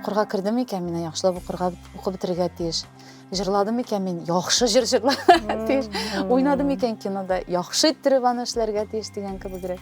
укырга кердем икән мин яхшылап укырга укып бетерергә тиеш җырладым икән мин яхшы җыр җырларга тиеш уйнадым икән кинода яхшы иттереп аны эшләргә тиеш дигән кебегрәк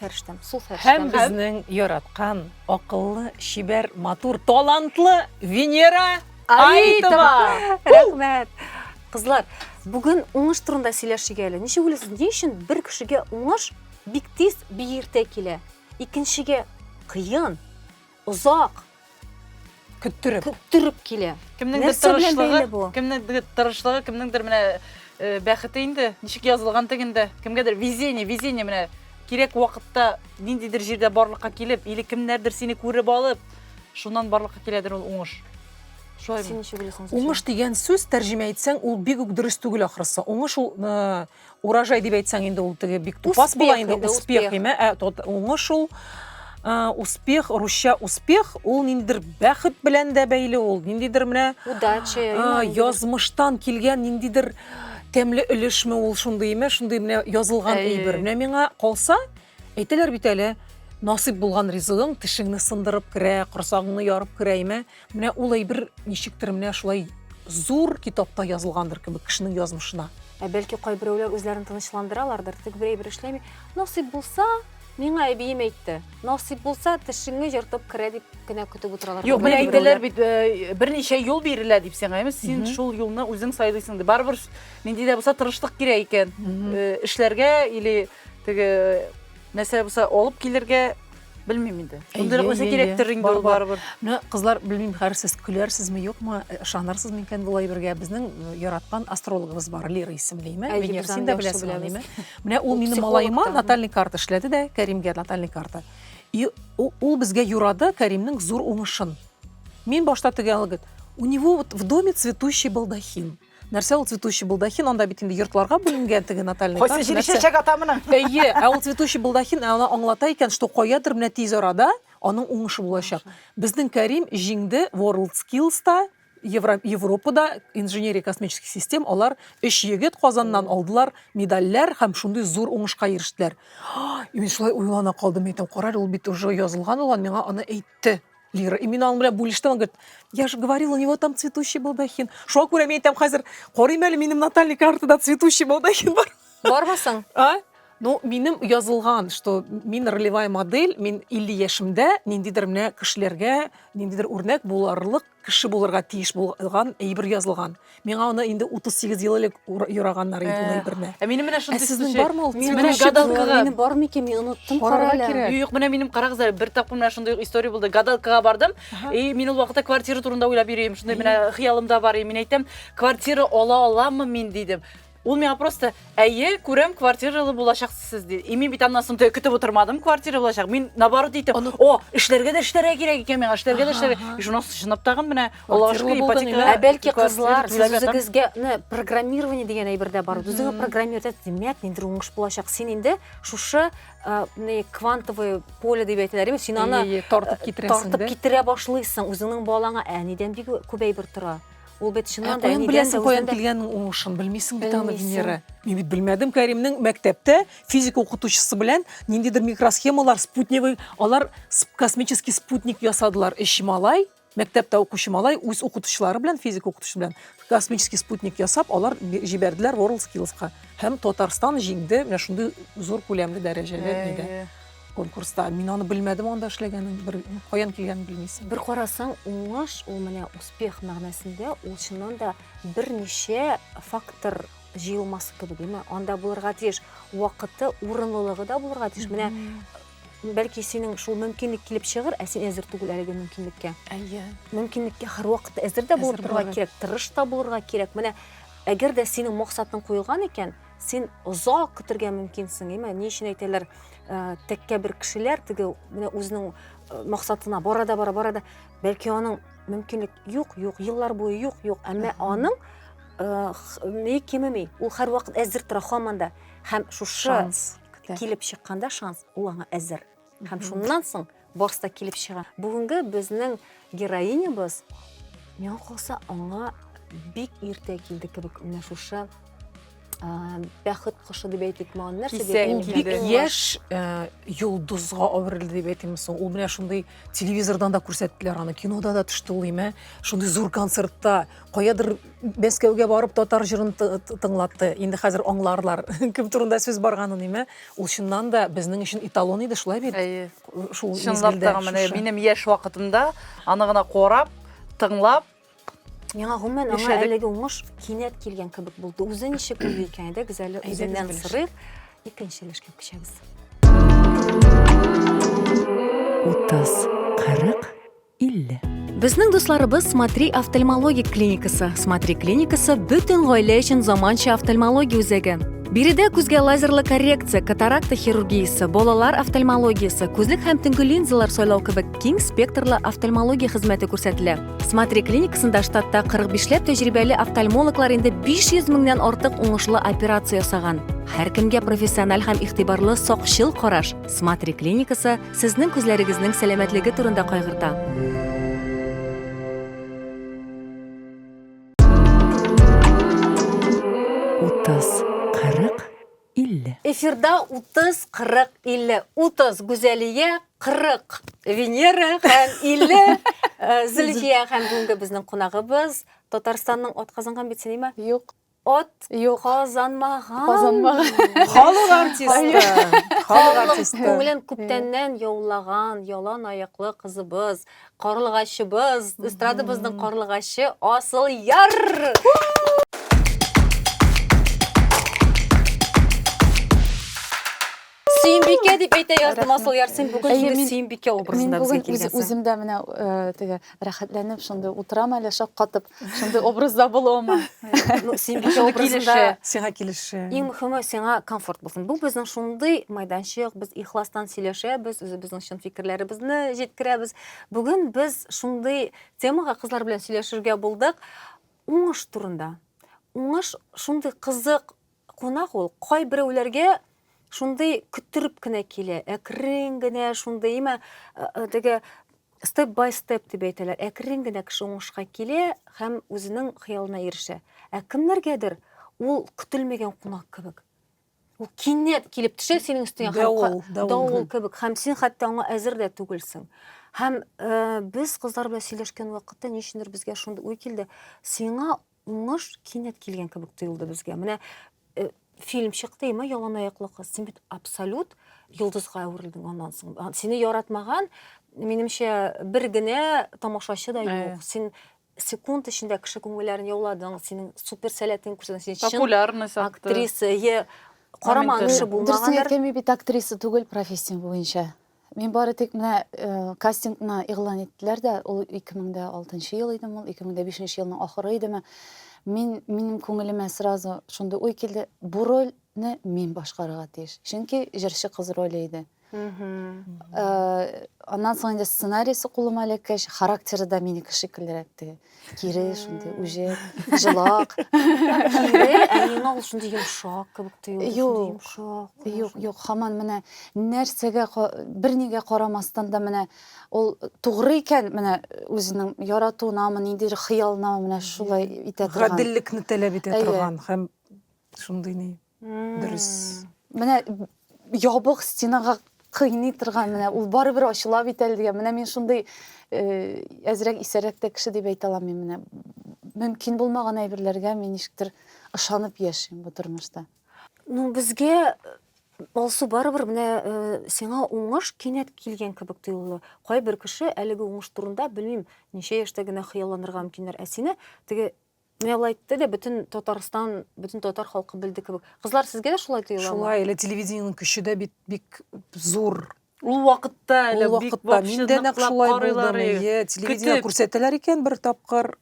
Фәрештәм, су фәрештәм. Һәм безнең яраткан, акыллы, чибәр, матур, талантлы Венера Аитова. Рәхмәт. Кызлар, бүген уңыш турында сөйләшик әле. Ничек уйлыйсыз, ни өчен бер кешегә уңыш бик тиз, бик иртә килә? Икенчегә кыен. озак көттереп көттереп килә. Кемнеңдер Нәрсә белән тырышлыгы, бәйле бу? кемнеңдер тырышлыгы, кемнеңдер менә э, бәхете инде, ничек язылган тегендә. Кемгәдер везение, везение менә кирәк вакытта ниндидер җирдә барлыкка килеп, или кемнәрдер сине күреп алып, шуннан барлыкка киләдер ул уңыш. Шулай Син ничек беләсең? Зөфия? Уңыш дигән сүз тәрҗемә итсәң, ул бик үк дөрес түгел ахрысы. Уңыш ул э, Урожай дип әйтсәң инде ул теге бик тупас була инде, успех име? Ә тот уңыш ул успех, русча успех, ул ниндидер бәхет белән дә бәйле ул, ниндидер менә удача, язмыштан килгән ниндидер тәмле өлешме ул шундый име, шундый менә язылган әйбер. Менә миңа калса, Әйтәләр бит әле, насыйп булган ризыгың тешеңне сындырып керә, корсагыңны ярып керә име? Менә ул әйбер ничектер менә шулай зур китапта язылгандыр кебек кешенең язмышына. Ә бәлки кайберәүләр үзләрен тынычландыралардыр, тик бер әйбер эшләми. Насыйп булса, миңа әбием әйтте. Насыйп булса, тешеңне җыртып керә дип кенә көтеп утыралар. Юк, менә әйтәләр бит, э, берничә юл бирелә дип сиңа, әйме? Син шул юлны үзең сайлыйсың дип. Барыбер нинди дә булса тырышлык кирәк икән. Э, эшләргә или Теге нәрсә булса алып килергә белмим инде. Шундый нәрсә кирәктер инде ул барыбер. Менә кызлар белмим, хәзер сез көләрсезме, юкмы, ышанырсызмы икән бу әйбергә. Безнең яраткан астрологыбыз бар, Лира исемлеме? Венера, син дә беләсең аны, Менә ул минем малаема натальный карта эшләде дә, Кәримгә натальный карта. И ул безгә юрады Кәримнең зур уңышын. Мин башта теге алгы, у него вот в доме цветущий балдахин. Нәрсә ул цветущий балдахин? Анда бит инде йортларга бүленгән теге натальный Кайсы җире чәчәк ата моның? Әйе, ә ул цветущий балдахин аны аңлата икән, что каядыр менә тиз арада аның уңышы булачак. Безнең Кәрим җиңде World Skills та, Европада инженерия космических систем алар өч егет Казаннан алдылар медальләр һәм шундый зур уңышка ирештеләр. Мин шулай уйлана калдым, әйтәм, карар ул бит уже язылган булган, миңа аны әйт әйтте. Лира, и мин аның белән бүлештем, он говорит, я же говорил, у него там цветущий балдахин. Шуңа күрә мин әйтәм хәзер, карыйм әле минем натальный картада цветущий балдахин бар. Бармы соң? А? Ну, минем язылган, что мин ролевая модель, мин 50 яшемдә ниндидер менә кешеләргә ниндидер үрнәк буларлык кеше булырга тиеш булган әйбер язылган. Миңа аны инде 38 ел элек юраганнар иде ул э, әйберне. Ә минем менә шундый сүз. Сезнең бармы ул? Минем менә гадалкага. Минем бармы икән? Мин оныттым карале. Юк, менә минем карагыз әле, бер тапкыр менә шундый история булды. Гадалкага бардым. И мин ул вакытта квартира турында уйлап йөрим. Шундый менә хыялымда бар. И мин әйтәм, квартира ала аламмы мин дидем. Ул миңа просто, әйе, күрәм, квартиралы булачаксыз сез, ди. И мин бит аннан соң теге көтеп утырмадым, квартира булачак. Мин наоборот әйтәм, Аны- о, эшләргә дә эшләргә кирәк икән миңа, эшләргә дә Ага, эшләргә. ага. И шуннан соң чынлап тагын менә Аллага Квартиралы шөкер булдың, ипотека. Ә бәлки квартира кызлар, түләп сез ятам. үзегезгә не, программирование дигән әйбер дә бар. Үзеңә программировать ит, димәк, ниндер уңыш булачак. Син инде шушы э, не, квантовое поле дип әйтәләр, ме? син аны Ие, ие, тартып китерәсең тартып дә. китерә башлыйсың үзеңнең балаңа. Әнидән бик күп әйбер тора. Ул бит чыннан да әнидән беләсең, каян килгәнен уңышын, белмисең бит аны Венера. Мин бит белмәдем Кәримнең мәктәптә физика укытучысы белән ниндидер микросхемалар, спутневый, алар космический спутник ясадылар. Эш малай, мәктәптә укучы малай үз укытучылары белән, физика укытучысы белән космический спутник ясап, алар җибәрделәр World Skills-ка. Һәм Татарстан җиңде, менә шундый зур күләмле дәрәҗәле нидә. конкурста. Мин аны белмәдем анда эшләгәнен, бер каян килгәнен белмисең. Бер карасаң, уңыш ул менә успех мәгънәсендә ул чыннан да берничә фактор җыелмасы кебек, димме? Анда булырга тиеш вакыты, урынлылыгы да булырга тиеш. Менә бәлки синең шул мөмкинлек килеп чыгыр, ә син әзер түгел әлеге мөмкинлеккә. Әйе. Мөмкинлеккә һәрвакыт әзер дә булып торырга кирәк, тырыш та булырга кирәк. Менә әгәр дә синең максатың куелган икән, Син озак көтергә мөмкинсең, әмма ни өчен әйтәләр, э, тәккә бер кешеләр теге менә үзенең э, максатына бара да бара, бара да, бәлки аның мөмкинлек юк, юк, еллар буе юк, юк, әмма аның э, х- ни кимеми, ул һәрвакыт әзер тора һаман да. Һәм шушы Шанс көтә. килеп чыкканда шанс, ул аңа әзер. Һәм шуннан соң барысы да килеп чыга. Бүгенге безнең героинябыз миңа калса аңа бик иртә килде кебек менә шушы бәхет кошы дип әйтик маған нәрсә дип бик яшь йолдызга әверелде дип әйтим соң ул менә шундый телевизордан да күрсәттеләр аны кинода да төште ул имә шундый зур концертта каядыр Мәскәүгә барып татар җырын тыңлатты. Инде хәзер аңларлар, кем турында сүз барганын, име? Ул чыннан да безнең өчен эталон иде, шулай бит? Әйе. Шул Чынлап та менә минем яшь вакытымда аны гына карап, тыңлап, Миңа гомумән аңа әлеге уңыш кинәт килгән кебек булды. Үзе ничек булды икән, әйдәгез әле үзеннән сырыйк. Икенче өлешкә күчәбез. Утыз, кырык 50. Безнең дусларыбыз Смотри офтальмологик клиникасы. Смотри клиникасы бөтен гаилә өчен заманча офтальмология үзәге. Биредә күзгә лазерлы коррекция, катаракта хирургиясе, балалар офтальмологиясе, күзлек һәм төнге линзалар сайлау кебек киң спектрлы офтальмология хезмәте күрсәтелә. Смотри клиникасында штатта 45 ләп тәҗрибәле офтальмологлар инде 500 меңнән артык уңышлы операция ясаган. Һәркемгә профессиональ һәм игътибарлы сакчыл караш. Смотри клиникасы Сезнең күзләрегезнең сәламәтлеге турында кайгырта. Утыз, кырык, илле. Эфирда утыз, кырык, илле. Утыз, Гүзәлия, кырык, Венера һәм илле, э, Зөлфия һәм бүгенге безнең кунагыбыз Татарстанның атказанган бит синема. Юк. Ат юк казанмаган. Казанмаган. Халык артисты. Халык артисты. Күңелен күптәннән яулаган ялан аяклы кызыбыз, карлыгачыбыз, эстрадабызның карлыгачы Асыл Яр! Сөембикә дип әйтә яздым Асылъяр, син бүген Әйе, шундый мин- Сөембикә Мин образында безгә бүген үз, килгәнсең. үзем дә менә э, теге рәхәтләнеп шундый утырам әле шаккатып, шундый образда булуыма. Ну, Сөембикә Шундый образында килеше, сиңа килеше. иң мөхиме сиңа комфорт булсын. Бу безнең шундый майданчык, без ихластан сөйләшәбез, үзебезнең чын фикерләребезне җиткерәбез. Бүген без шундый темага кызлар белән сөйләшергә булдык. Уңыш турында. Уңыш шундый кызык Кунак ул. Кайберәүләргә шундый көттереп кенә килә, әкрен генә шундый, имә теге степ бай степ дип әйтәләр, әкрен генә кеше уңышка килә һәм үзенең хыялына ирешә. Ә кемнәргәдер ул көтелмәгән кунак кебек. Ул кинәт килеп төшә синең өстеңә һәм давыл кебек һәм син хәтта аңа әзер дә түгелсең. Һәм э, без кызлар белән сөйләшкән вакытта ничендер безгә шундый уй килде, сиңа Уңыш кинәт килгән кебек тоелды безгә. Менә э, фильм чыкты, ма ялан аяклы кыз. Син бит абсолют йолдызга әверелдең аннан соң. А, Сине яратмаган, минемчә, бер генә тамашачы да Ә. юк. Син секунд эчендә кеше күңелләрен яуладың, синең супер сәләтең күрсәтә, син чын Популярность атты. актриса, е караман Амин, кеше Дөресен булмагандыр. әйтәме бит актриса түгел профессия буенча. Мин бары тик менә э, кастингны игълан иттеләр дә, ул 2006 ел идеме, ул 2005 елның ахыры идеме. Мин минем күңелемә сразу шундый уй килде, бу рольне мин башкарырга тиеш. Чөнки җырчы кыз роле иде. Э, Аннан соң инде сценарийсы кулыма эләккәч, характеры да минеке шикеллерәк теге. кире шундый үҗәт җылак кире ә миңа ул шундый йомшак кебек тоелды шундый йомшак юк юк хаман менә нәрсәгә бернигә карамастан да менә ул тугры икән менә үзенең яратуынамы ниндидер хыялынамы менә шулай итә торган гаделлекне таләп итә торган һәм шундый ни Дөрес. Менә ябык стенага кыйный торган менә ул барыбер ачыла бит әле дигән. Менә мин шундый э, әзрәк исәрәк тә кеше дип әйтә алам мин менә. Мөмкин булмаган әйберләргә мин ничектер ышанып яшим бу тормышта. Ну, безгә э, Алсу барыбер менә э, сиңа уңыш кинәт килгән кебек тоелды. Кайбер кеше әлеге уңыш турында белмим, ничә яшьтә генә хыялланырга мөмкиннәр, ә сине теге Менә алай әйтте дә бөтен Татарстан, бөтен татар халкы белде кебек. Кызлар, сезгә дә шулай тоеламы? Шулай, әле телевидениенең көче дә бит бик зур. Ул вакытта әле бик вакытта мин дә нәкъ шулай булдым. Әйе, телевидение күрсәтәләр икән бер тапкыр.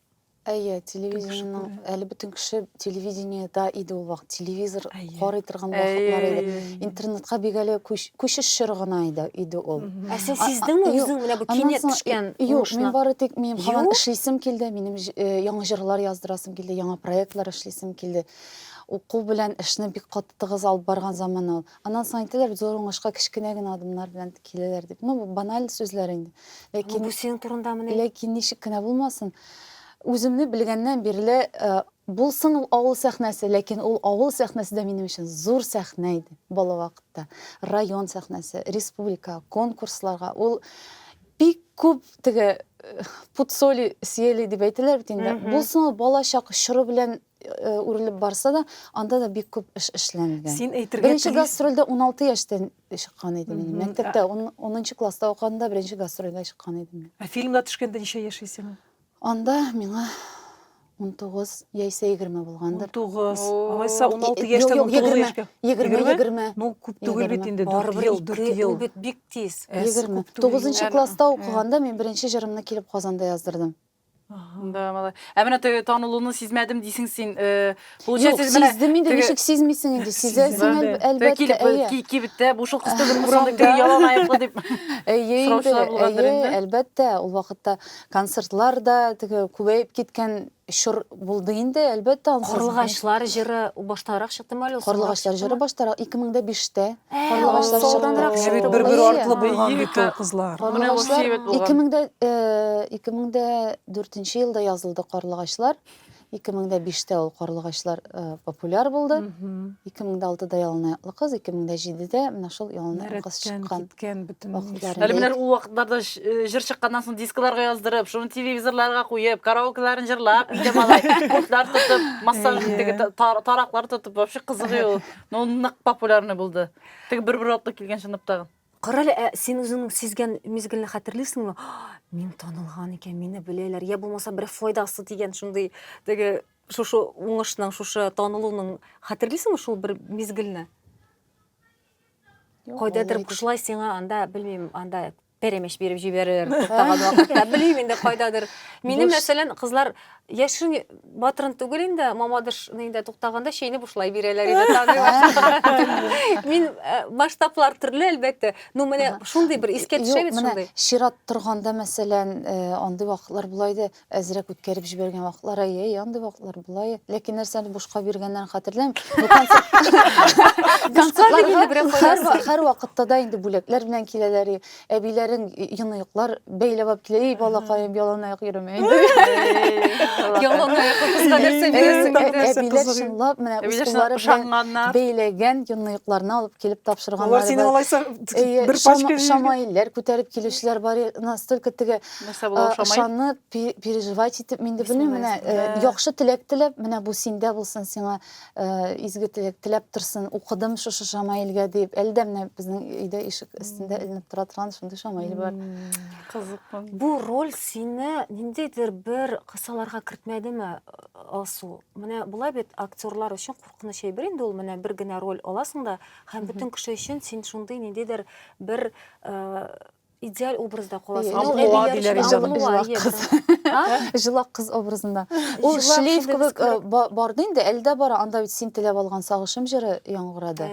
Әйе, телевидениенең әле бөтен кеше телевидениедә иде ул вакыт. Телевизор карый торган вакытлар иде. Интернетка бик әле күч Күче чор гына иде, иде ул. Ә син сиздеңме үзең менә бу кинәт төшкән уңышны? Юк, мин бары тик мин һаман эшлисем килде, минем яңа җырлар яздырасым килде, яңа проектлар эшлисем килде. Уку белән эшне бик каты тыгыз алып барган заман ул. Аннан соң әйтәләр, зур уңышка кечкенә генә адымнар белән киләләр дип. Ну, баналь сүзләр инде. Ләкин бу синең турындамыни? Ләкин ничек кенә булмасын, үземне белгәннән бирле Булсын ул авыл сәхнәсе, ләкин ул авыл сәхнәсе дә минем өчен зур сәхнә иде, бала вакытта. Район сәхнәсе, республика, конкурсларга ул бик күп теге пуд соли съели дип әйтәләр бит инде. Булсын ул бала чак чоры белән үрелеп барса да, анда да бик күп эш эшләнгән. Син әйтергә Беренче гастрольдә 16 яшьтән чыккан идем мин. Мәктәптә 10 класста укыганда беренче гастрольгә чыккан идем мин. Ә фильмга төшкәндә ничә яшь идең? Анда миңа унтугыз яисә егерме булгандыр. Унтугыз. Алайса, уналты яшьтән унтугыз яшькә. Егерме, егерме. Ну, күп түгел бит инде, дүрт ел, дүрт ел. Бит бик тиз. Егерме. Тугызынчы класста укыганда мин беренче җырымны килеп Казанда яздырдым. Да, малай. Ә менә танылуны сизмәдем дисең син. Юк, сиздем инде, ничек сизмисең инде, сизәсең әлбәттә, әйе. Килеп, кибеттә, бу шул кызды бер курсанда кире ялан аяклы дип сораучылар булгандыр инде. Әйе, әлбәттә, ул вакытта концертлар да теге күбәеп киткән чор булды инде, әлбәттә. Карлыгачлар җыры баштарак чыктымы әле ул? Карлыгачлар җыры баштарак, 2005-тә. Карлыгачлар чыктымы? Җибит бер-бер артлы булган бит ул кызлар. Карлыгачлар 2004 елда язылды Карлыгачлар. 2005 тә ул карлыгачлар э, популяр булды. 2006 да ялына ятлы кыз, 2007 дә менә шул ялына ятлы кыз чыккан. Киткән бөтен вакытларында. Әле менә ул вакытларда э, җыр чыкканнан соң дискларга яздырып, шуны телевизорларга куеп, караокеларын җырлап, өйдә малай куртлар тотып, массаж теге тараклар тотып, вообще кызыгы ул. Ну, нык популярный булды. Теге бер-бер атлы килгән чынлап тагын. Карале, ә син үзеңнең сизгән мизгелне хәтерлисеңме? Мин танылган икән, мине беләләр. Я булмаса бер файдасы дигән шундый теге шушы уңышның, шушы танылуның хәтерлисеңме шул бер мизгелне? Кайдадыр кышлай сиңа анда, белмим, анда перемеш биреп җибәрер, туктаган вакытта, белмим инде кайдадыр. Минем мәсәлән, кызлар Яшерен батырын түгел инде, мамадыш нинде туктаганда чәйне бушлай бирәләр иде таный Мин э, масштаблар төрле әлбәттә, но менә шундый бер искә төшә бит шундый. Чират торганда, мәсәлән, э, андый вакытлар була иде, әзрәк үткәреп җибәргән вакытлар, әй, андый вакытлар була иде. Ләкин нәрсәне бушка биргәннәрен хәтерләмим. Концертларга һәр вакытта да инде бүләкләр белән киләләр. әбиләрең яңаяклар бәйләп алып килә ей балакаем яланаяк йөрмә инде яланаяк кызга нәрсә бирәсең әбиләр чынлап менә үз куллары белән бәйләгән яңаякларны алып килеп тапшырганнар алар синең алайса бер пачка шамаилләр күтәреп килүчеләр бар настолько теге ышанып переживать итеп мин дә белмим менә яхшы теләк теләп менә бу синдә булсын сиңа Э, изге теләк теләп торсын укыдым шушы шамаилгә дип әле дә менә безнең өйдә ишек өстендә эленеп тора торган шундый шамаил бар кызык бу роль сине ниндидер бер кысаларга кертмәдеме алсу менә болай бит актерлар өчен куркыныч әйбер инде ул менә бер генә роль аласың да һәм бөтен кеше өчен син шундый ниндидер бер э, идеаль образда каласың. Аллуа диләр Җылак кыз образында. Ул шлейф кебек э, барды инде, әлдә бара. Анда бит син теләп алган сагышым җыры яңгырады.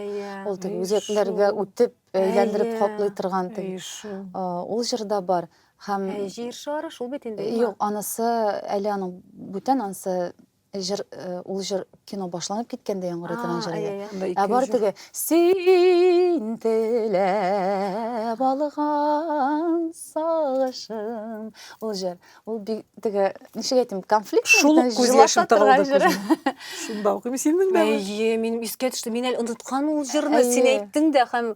Ул теге үзәкләргә үтеп, әйләндереп каплый торган теге. Э, ул җырда бар. Һәм җир шары шул бит инде. Юк, анысы әле аның бүтән анысы Җыр, ул җыр кино башланып киткәндә яңгыр итәгән җыр иде. Ә бар теге син теләп алган сагышым. Ул җыр, ул бик теге, ничек әйтим, конфликт Шул күз яшем тыгылды. Шунда укыйм синең дә. Әйе, минем искә төште. Мин әле оныткан ул җырны, син әйттең дә һәм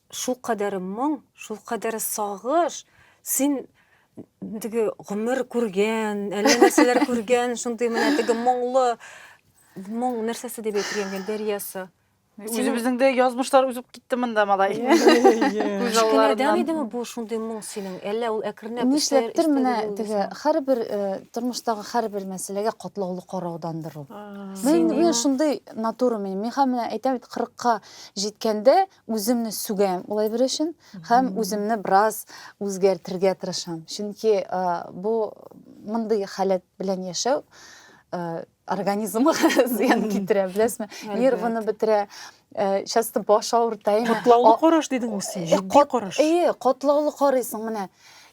Шул кадәр моң, шул кадәр сагыш, син теге гомер күргән, әллә нәрсәләр күргән, шундый менә теге моңлы моң нәрсәсе дип әйтергә мөмкин, дәрьясы. Үзебезнең дә язмышлар узып китте монда, малай. Күз Кенәдән алларыннан. идеме бу шундый моң синең? Әллә ул әкренләп Нишләптер өстәде менә булды теге соң? һәрбер э, тормыштагы һәрбер мәсьәләгә катлаулы караудандыр ул. Мин, Син мин иман- шундый натура минем. Миңа менә әйтәм бит, 40-ка җиткәндә үземне сүгәм ул әйбер өчен һәм үземне бераз үзгәртергә тырышам чөнки э, бу мондый халәт белән яшәү э, организмга зыян китерә беләсезме нервыны бетерә э, часто баш авырта котлаулы караш дидеңме син җитди караш әйе котлаулы карыйсың менә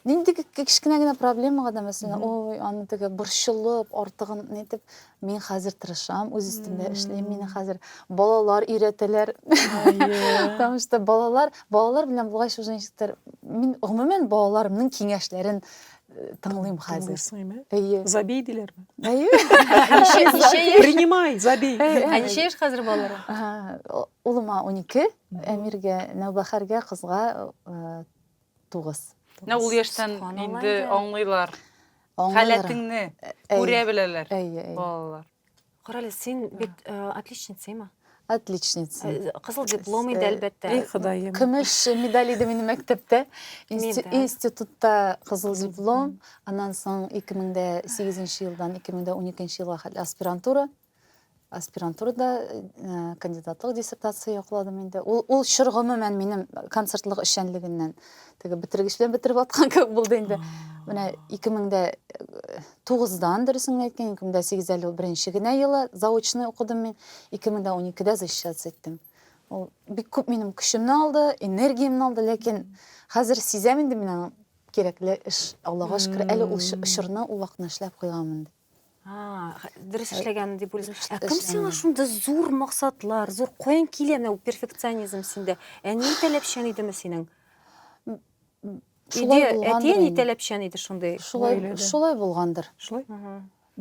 нинди кечкенә генә проблемага да мәсәлән ой аны теге борчылып артыгын нитеп Мин хәзер тырышам, үз өстемдә эшлим. Мине хәзер балалар өйрәтәләр. Потому что балалар, балалар белән булгач уже ничектер, мин гомумән балаларымның киңәшләрен э, тыңлыйм хәзер. Тыңлыйсыңмы? Әйе. Забей диләрме? Әйе. Ничә ничә яшь? Принимай, забей. Ә ничә яшь хәзер балалар? Улыма 12, Әмиргә, Нәүбәхәргә, кызга э, Тугыз. Менә ул яшьтән инде аңлыйлар. Халәтеңне күрә беләләр балалар. Карале, син бит отличница имә? Отличница. Кызыл диплом иде, әлбәттә. Эй, Ходаем. Көмеш медаль иде минем мәктәптә. Институтта кызыл диплом, аннан соң 2008 елдан 2012 елга хәтле аспирантура. аспирантурада э, кандидатлык диссертация якладым инде ул ул чор гомумән минем концертлык эшчәнлегеннән теге бетергеч белән бетереп аткан кебек булды инде менә ике мең дә э, тугыздан дөресен генә әйткән ике мең дә сигез әле беренче генә елы заочный укыдым мин ике мең дә уникедә защищаться иттем ул бик күп минем көчемне алды энергиямне алды ләкин хәзер сизәм инде мин аның кирәкле эш аллага шөкер әле ул чорны ул вакытны эшләп куйганмын дип дөрес э, эшләгән дип уйлыйсың ә кем сиңа шундый зур максатлар зур каян килә менә перфекционизм синдә әни таләпчән идеме синең шулай әти әни таләпчән иде шундый шулай шулай булгандыр шулай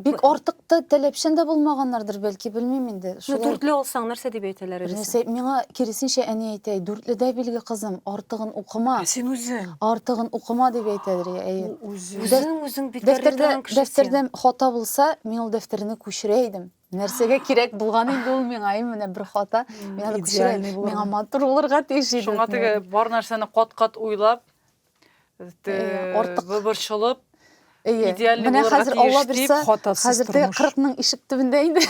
бик артык та таләпчән дә булмаганнардыр бәлки белмим инде дүртле алсаң нәрсә дип әйтәләр нәрсә миңа киресенчә әни әйтә дүртледә билге кызым артыгын укыма ә син үзең артыгын укыма дип әйтәдер әйе Үзең үзең бит Дәфтәрдә дәфтәрдә хата булса, мин ул дәфтәрне күчерә идем. Нәрсәгә кирәк булган инде ул миңа, менә бер хата. Мин аны күчерә. Миңа матур булырга тиеш иде. Шуңа теге бар нәрсәне кат-кат уйлап, артык борчылып, идеальный булырга тиеш дип, хатасыз тормыш. Хәзер теге 40 ның ишек төбендә инде.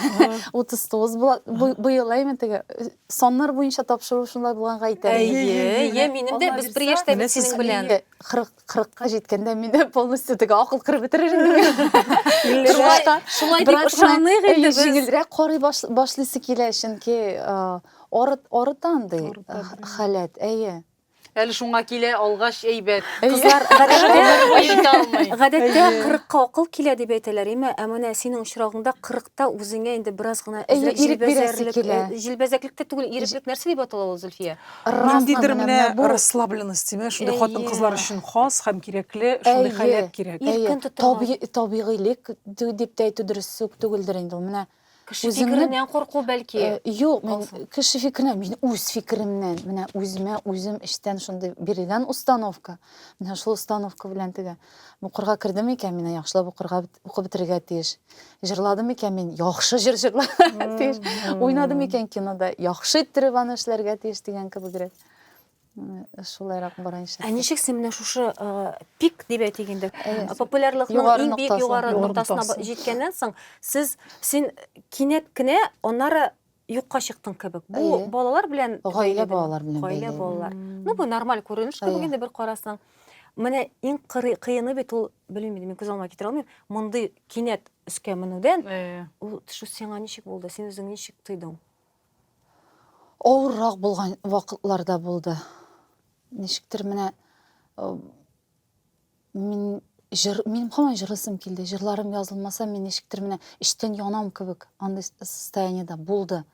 39 була. Быел әйме теге саннар буенча тапшыру шунда булганга әйтәләр. Әйе, минем дә без бер яшьтә бит синең белән. 40 кырыкка җиткәндә мине полностью теге акыл кырып бетерер инде шулай дип ышаныйк инде без җиңелрәк карый башлыйсы килә чөнки арыта андый халәт әйе әле шуңа килә алгач әйбәт кызлар гадәттә кырыкка акыл килә дип әйтәләр әмма ә менә синең очрагыңда кырыкта үзеңә инде бераз гына җилбәзәклек тә түгел иреклек нәрсә дип атала ул зөлфия Ниндидер менә расслабленность димә, шундый хатын-кызлар өчен хас һәм кирәкле шундый халәт кирәк. Иркен тоту. Табигыйлек дип тә әйтү дөрес үк түгелдер инде ул. Менә кеше фикереннән курку бәлки. Юк, мин кеше фикереннән, мин үз фикеремнән, менә үземә үзем эчтән шундый бирелгән установка. Менә шул установка белән теге. Укырга кердем икән, мин яхшылап укырга укып бетерергә тиеш. Җырладым икән, мин яхшы җыр җырларга тиеш. Уйнадым икән кинода, яхшы иттереп аны эшләргә тиеш дигән кебегрәк. Шулайрак бара иншалла. Ә ничек син менә шушы пик дип әйтик инде, популярлыкның иң бик югары ноктасына җиткәннән соң, сез син кинәт кенә аннары юкка чыктың кебек. Бу Әйе. балалар белән Гаилә балалар белән Гаилә бәйле. балалар. Ну бу нормаль күренеш кебек инде бер карасаң. Менә иң кыры- кыены бит ул, белмим инде, мин күз алмага китерә алмыйм. Мондый кинәт өскә менүдән Э, ул төшү сиңа ничек булды? Син үзең ничек тойдың? Авыррак булган вакытларда булды. Ничектер менә э, Мин жыр, минем һаман җырласым килде. Җырларым язылмаса, мин ничектер менә эчтән янам кебек андый состояниедә булды.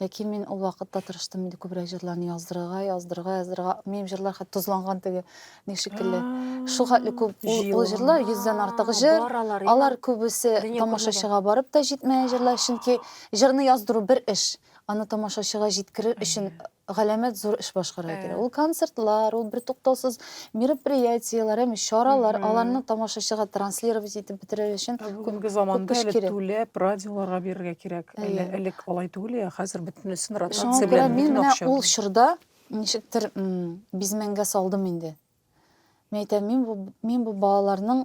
Ләкин мин ул вакытта тырыштым инде күбрәк җырларны яздырырга, яздырырга, яздырырга. Минем җырлар хәтта тозланган теге ни шикелле. Шул хәтле күп ул җырлар, йөздән артык җыр. Алар күбесе тамашачыга барып та җитмәгән җырлар, чөнки җырны яздыру бер эш. Аны тамашачыга җиткерер өчен галәмәт зур эш башкарырга кирәк. Ул концертлар, ул бертуктаусыз мероприятиеләр, яме чаралар, аларны тамашачыга транслировать итеп бетерер өчен күпме заманда әле түләп радиоларга бирергә кирәк. Әле элек алай түгел я, хәзер бөтенесен ротация белән бөтен акча. Мин ул чорда ничектер бизмәнгә салдым инде. Мин әйтәм, мин бу балаларның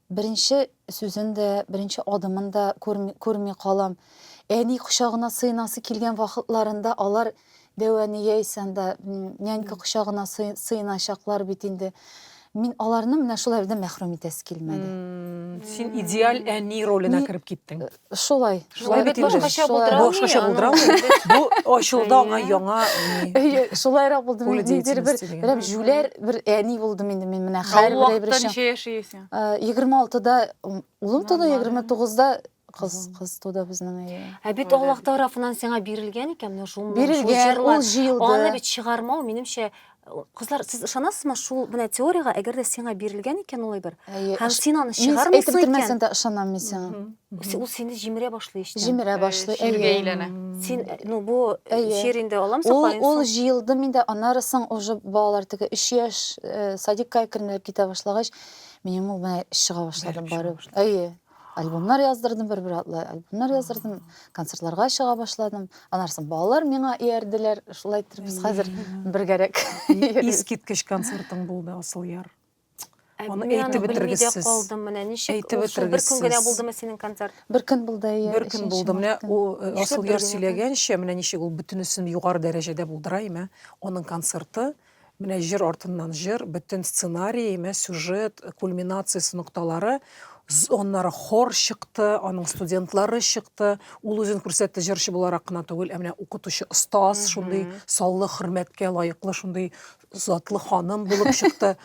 Беренче сүзен дә, беренче адымын да күрми, күрми калам. Әни кочагына сыенасы килгән вакытларында алар Дәвәне яисә анда нянька кочагына сыеначаклар бит инде. Мин аларны менә шул әле дә мәхрүм итәсе килмәде. Син идеаль әни роленә кереп киттең. Шулай. Шулай бит инде. Башкача булдырамы? Башкача булдырамы? Бу ачылды аңа яңа. Әйе, шулайрак булды. Ниндидер бер рәм җүләр бер әни булдым инде мин менә хәл бер бер эшем. Ничә яшисең? 26-да улым туды, 29-да кыз кыз туды безнең әйе. Ә бит Аллаһ тарафыннан сиңа бирелгән икән менә шул җырлар. Бирелгән, ул җыелды. Аны бит чыгармау, минемчә, Кызлар, сез ышанасызмы шул менә теорияга, әгәр дә сиңа бирелгән икән ул әйбер, һәм син аны чыгармыйсың икән. Әйтеп дә ышанам мин сиңа. Ул сине җимерә башлый эчтән. Җимерә башлый, әйе. әйләнә. Син, ну бу җир инде аламсың, каенсың. Ул җыелды миндә, аннары соң уже балалар теге 3 яшь э, садикка әкренләп китә башлагач, минем ул менә чыга башлады барып. Әйе. Альбомнар яздырдым бер-бер атлы, альбомнар яздырдым, концертларга чыга башладым. Анарсын балалар миңа иярделәр, шулай итеп без хәзер бергәрәк. Искиткеч концертың булды, Асылъяр. Аны әйтеп бетергез сез. Калдым менә ничек? Әйтеп бетергез сез. Бер көн генә булдымы синең концерт? Бер көн булды, әйе. Бер көн булды. Менә э, Асылъяр сөйләгәнчә, менә ничек ул бөтенесен югары дәрәҗәдә булдыра име? Аның концерты Менә җыр артыннан җыр, бөтен сценарий, мә сюжет, кульминациясе нокталары, аннары хор чыкты, аның студентлары чыкты, ул үзен күрсәтте җырчы буларак кына түгел, ә менә укытучы остаз, шундый саллы хөрмәткә лаеклы, шундый затлы ханым булып чыкты.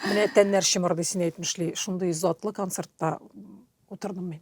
Менә тәннәр чымырдый син әйтмешли, шундый затлы концертта утырдым мин.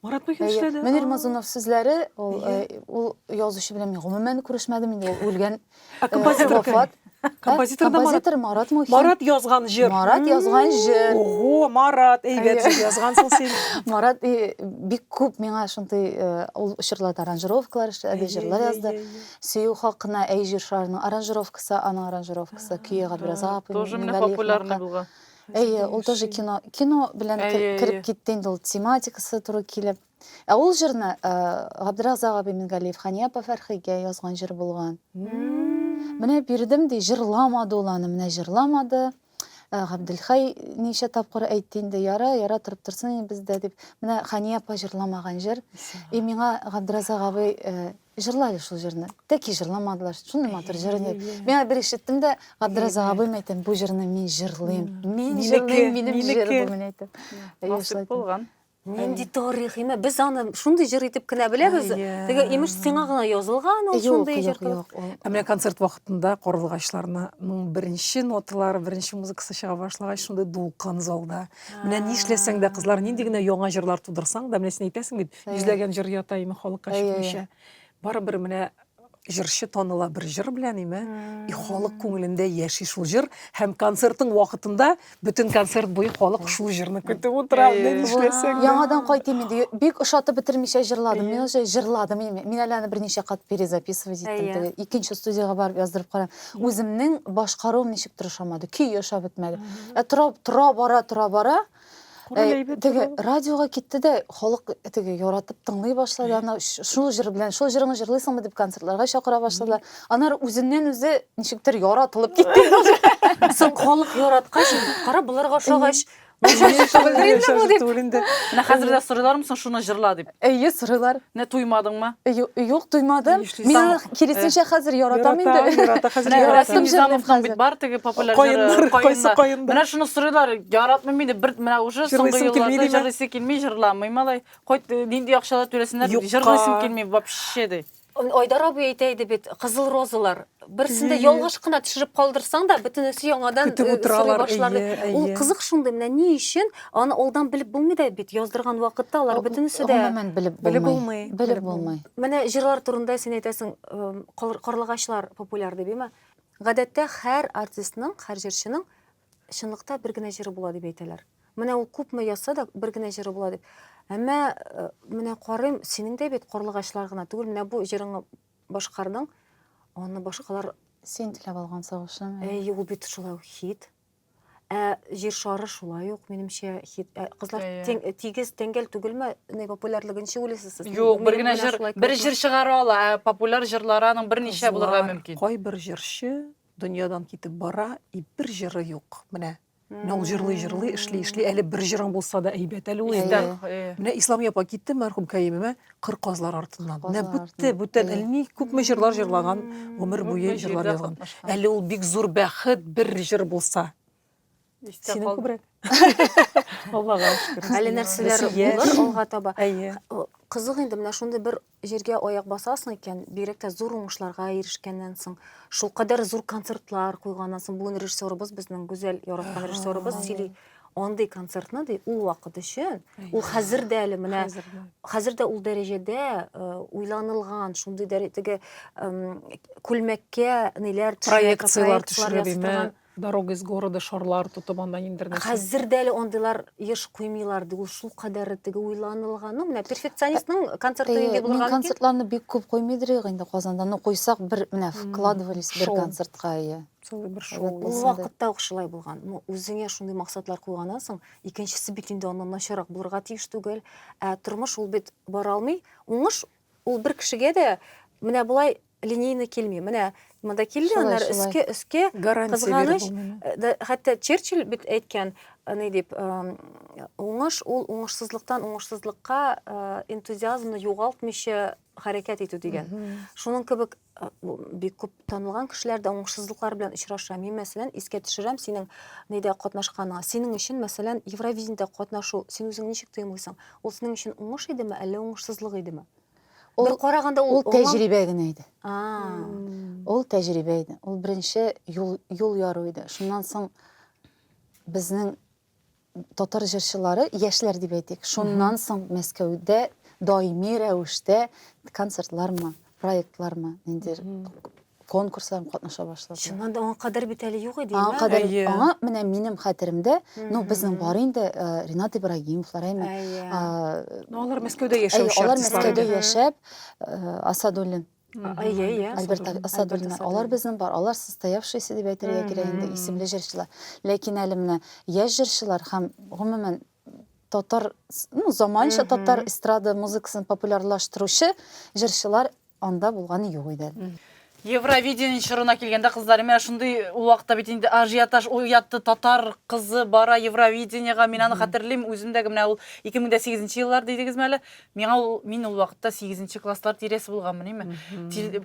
Марат Мөһин эшләде. Мөнир Мазунов сүзләре, ул ул язучы белән мин гомумән күрешмәдем инде, ул үлгән. Ә композитор вафат. Композитор да композитор Марат Мухин. Марат язган җыр. Марат язган җыр. Ого, Марат, әйбәт җыр язгансың син. Марат бик күп миңа шундый ул чорларда аранжировкалар эшләде, җырлар язды. Сөю хакына әй җыр шарының аранжировкасы, аның аранжировкасы, көе Габдразапов. Тоже менә популярный булган. Әйе, ул тоже кино, кино белән кереп китте инде ул тематикасы туры килеп. Ә ул җырны э, Габдразак абый Мингалиев Хания апа Фәрхигә язган җыр булган. Менә бирдем ди, җырламады ул аны, менә җырламады. Э, Габделхай ничә тапкыр әйтте инде, яра, яра торып торсын инде бездә дип. Менә Хания апа җырламаган җыр. И миңа Габдразак абый э, Җырлады шул җырны. Тәки җырламадылар. Шундый матур җыр иде. Миңа бер ишеттем дә, Габдразак абыйм әйтәм, бу җырны мин җырлыйм. Мин җырлыйм, минем җыр бу менә әйтәм. Насыйп булган. Нинди тарих, имә, без аны шундый җыр итеп кенә беләбез. Теге имеш сиңа гына язылган ул шундый җыр. Юк, юк, юк. Ә менә концерт вакытында карлыгачларның беренче ноталары, беренче музыкасы чыга башлагач, шундый дулкын залда. Менә нишләсәң дә, кызлар, нинди генә яңа җырлар тудырсаң да, менә син әйтәсең бит, Йөзләгән җыр ята име халыкка чыкмыйча. Барыбер менә җырчы таныла бер җыр белән име и халык күңелендә яши шул җыр һәм концертың вакытында бөтен концерт буе халык шул җырны көтеп утыра менә нишләсәң яңадан кайтыйм инде бик ошатып бетермичә җырладым мин уже җырладым мин әле аны берничә кат перезаписывать иттем теге икенче студиягә барып яздырып карадым үземнең башкаруым ничектер ошамады көй ошап бетмәде тора бара тора бара Король э, әйбәт теге радиога китте дә халык теге яратып тыңлый башлады ана шул җыр белән шул җырыңны җырлыйсыңмы дип концертларга чакыра башладылар анар үзеннән үзе ничектер яратылып китте соң халык яраткач кара боларга ошагач Менә хәзер дә сорыйлармы соң шуны җырла дип. Әйе, сорыйлар. Менә туймадыңмы? Ю- Юк, туймадым. Ни эшлисең? Мин аны Сам- киресенчә хәзер яратам Ярата, инде. ярата, хәзер Менә ярата. Рәсим Яратам җырын Низамовның бит хәзер. бар теге популяр Каеннар, җыры, кайсы каеннар. каеннар? Менә шуны сорыйлар, яратмыйм инде, бер менә уже соңгы Җырлыйсым килми елларда димә. җырлыйсы килми, җырламый малай. Кайт, нинди акчалар түләсеннәр, Юкка. җырлыйсым килми вообще ди. Айдар абый әйтә иде бит, кызыл розалар. Берсендә ялгыш кына төшереп калдырсаң да, бөтенесе яңадан Көтеп э, утыралар, сорый башлады. әйе, әйе. Ул кызык шундый, менә ни өчен аны алдан белеп булмый да бит, яздырган вакытта алар бөтенесе дә Гомумән белеп Белеп булмый. булмый, Белеп белеп булмый. Менә җырлар турында син әйтәсең, эм, кар- карлыгачлар популяр дип, әйме? Гадәттә һәр артистның, һәр җырчының Чынлыкта бер генә җыры була дип әйтәләр. Менә ул күпме язса да бер генә җыры була дип. Әмма э, менә карыйм, синең дә бит карлыгачлар гына түгел, менә бу җырыңны башкардың, аны башкалар Син теләп алган сагышым. Ә Әйе, ул бит шулай ук хит. Ә җир шары шулай ук, минемчә, хит. Ә, кызлар Әйе. тиң- тигез тәңгәл түгелме? Ни популярлыгын ничек уйлыйсыз сез? Юк, бер Минем генә белән җыр, шулай бер килешми. җыр чыгара ала, ә популяр җырлары аның берничә булырга Кызлар, мөмкин. Кайбер җырчы Дөньядан китеп бара, и бер җыры юк. Менә Менә ул җырлый җырлый эшли эшли әле бер җырың булса да әйбәт әле ул инде. Менә Ислам апа китте мәрхүм кәемемә кыр казлар артыннан. Менә бүтте бүтән әлни күпме җырлар җырлаган гомер буе җырлар язган. Әле ул бик зур бәхет бер җыр булса. Синең күбрәк. Аллага шөкер. Әле нәрсәләр булыр алга таба. Әйе. Кызык инде менә шундый бер җиргә аяк басасың икән, бигрәк тә зур уңышларга ирешкәннән соң, шул кадәр зур концертлар куйганнан соң, бүген режиссерыбыз безнең гүзәл яраткан режиссерыбыз сөйли, андый концертны ди ул вакыт өчен, ул хәзер дә әле менә хәзер дә ул дәрәҗәдә э, уйланылган, шундый дәрәҗәдәге күлмәккә ниләр проекцияләр төшерә Дорога из города шарлар тотып анда ниндер нәрсә. Хәзер дә әле андыйлар еш куймыйлар ди. Ул шул кадәр теге уйланылган. Ну, менә перфекционистның концерты инде булган икән. Концертларны бик күп куймыйдыр ягы инде Казанда. Ну, куйсак бер менә вкладывались бер концертка ия. Целый бер шоу. Ул вакытта ук шулай булган. Ну, үзеңә шундый максатлар куйганнан соң, икенчесе бит инде аннан начарак булырга тиеш түгел. Ә тормыш ул бит бара алмый. Уңыш Ул бер кешегә дә менә болай линейно килми. Менә монда килде, аннары өскә, өскә, кызганыч. Э, хәтта Черчилль бит әйткән, э, ни дип, э, уңыш ул уңышсызлыктан уңышсызлыкка энтузиазмны югалтмыйча хәрәкәт итү дигән. Шуның кебек Э, бик күп танылган кешеләр дә уңышсызлыклар белән очраша. Мин, мәсәлән, искә төшерәм синең нидә катнашканыңа. Синең өчен, мәсәлән, Евровидениедә катнашу, син үзең ничек тоемлыйсың? Ул синең өчен уңыш идеме, әллә уңышсызлык идеме? Ул, Бер караганда ул, ул тәҗрибә генә иде. Ул тәҗрибә иде. Ул беренче юл, юл яру иде. Шуннан соң безнең Татар җырчылары, яшьләр дип әйтик, шуннан соң Мәскәүдә даими рәвештә концертлармы, проектлармы, ниндер конкурсларым катнаша башлады. Чыннан да аңа кадәр бит әле юк иде. Аңа кадәр аңа менә минем хәтеремдә, ну безнең бар инде Ренат Ибрагимовлар, әйме. Ну алар Мәскәүдә яшәүче. Алар Мәскәүдә яшәп, Асадуллин Әйе, әйе. Альберт Асадуллина, алар безнең бар, алар состоявшиеся дип әйтергә кирәк инде, исемле җырчылар. Ләкин әле менә яшь җырчылар һәм гомумән татар, ну, заманча татар эстрада музыкасын популярлаштыручы җырчылар анда булган юк иде. Евровидение чорына килгәндә кызлар, менә шундый ул вакытта бит инде ажиотаж уятты, татар кызы бара Евровидениега, мин аны хәтерлим, үземдәге менә ул 2008 еллар дидегезме әле? Миңа ул мин ул вакытта 8 класслар тирәсе булганмыниме?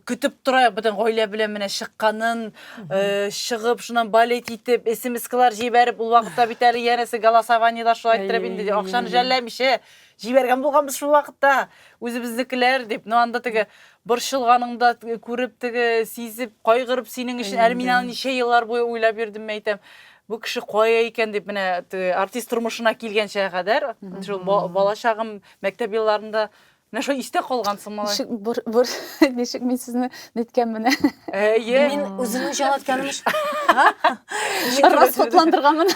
Көтеп тора бүтән гаилә белән менә чыкканын, э, чыгып, шуннан балет итеп, смс-калар җибәреп, ул вакытта бит әле янәсе голосованиелар шулай иттереп инде акчаны жәлләмичә җибәргән булганбыз шул вакытта. Үзебезнекеләр дип, ну анда теге борчылганыңда күреп теге сизеп, кайгырып синең өчен, әле мин аны ничә еллар буе уйлап йөрдем, әйтәм. бу кеше кая икән дип менә артист тормышына килгәнчә кадәр шул балачагым мәктәп елларында менә шул истә калган соң малай ничек бер бер ничек мин сезне ниткән менә әйе мин үземне җалатканым өчен расхатландырганмын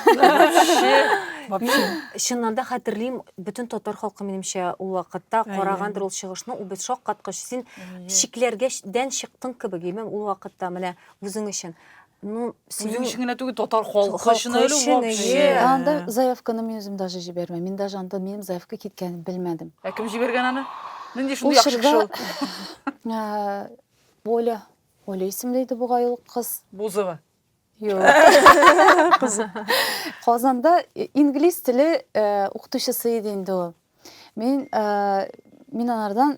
чыннан да хәтерлим бөтен татар халкы минемчә ул вакытта карагандыр ул чыгышны ул без шаккаткыч син чикләргә дән чыктың кебек имем ул вакытта менә үзең өчен ну синең өчен генә түгел татар халкы өчен әле вообще анда заявканы мин үзем даже җибәрмәм мин даже анда минем заявка киткәнен белмәдем ә кем җибәргән аны нинди шундый яхшы кеше ул оля оля исемле иде бугай ул кыз бузова Казанда инглиз теле укытучысы иде инде ул. Мин мин анардан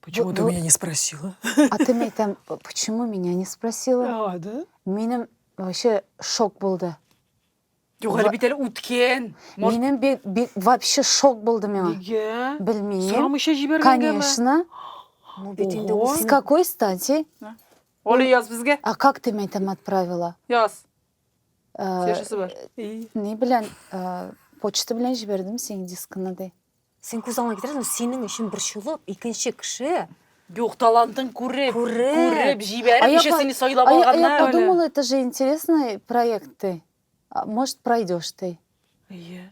Почему ты меня не спросила? А ты меня там, почему меня не спросила? А, да? Минем вообще шок булды. Юк, әле бит әле үткен. Минем вообще шок булды миңа. Нигә? Белмим. Сорамыйча җибәргәнгәме? Конечно. Ну, бит инде ул С какой стати? Оля, яз безгә. А как ты меня там отправила? Яз. Э, Свежесі бар. Э, не белән, э, почта белән җибәрдем синең дискыңа ди. Син күз алдыңа китерәсең, синең өчен борчылып, икенче кеше Юк, талантын күреп, Күреп. күреп, җибәреп, А я еще по- сине сайлап А я, а я алганнар. подумала, это же интересный проект ты. А, Может, пройдешь ты. Әйе.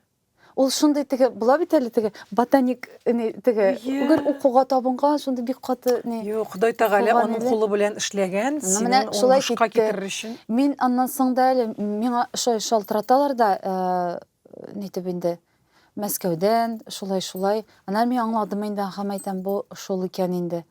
Ул шундый теге, була бит әле теге ботаник не, теге, Иә. гөр укуга табынган, шундый бик каты не. Юк, Ходай Тәгалә Булган аның иде. кулы белән эшләгән, Ну, синең менә шулай уңышка китте. китерер өчен. Мин аннан соң да әле миңа шулай шалтыраталар да, э, нитеп инде Мәскәүдән, шулай-шулай. Аннары мин аңладым инде, ахам әйтәм, бу шул икән инде.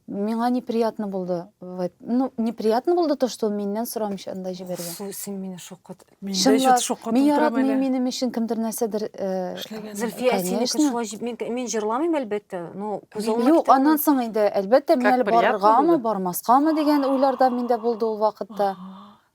Миңа неприятно булды. Ну, неприятно булды то, что миннән сорамыйча анда җибәргән. Су, син мине шокыт. Мин дә чөт шокыт. Мин яратмыйм минем өчен кемдер нәрсәдер эшләгән. Зөлфия, сине шулай җиб. Мин, мин җырламыйм, әлбәттә. Ну, күз алдына Юк, аннан соң инде, әлбәттә, мин әле барыргамы, бармаскамы дигән уйларда миндә булды ул вакытта.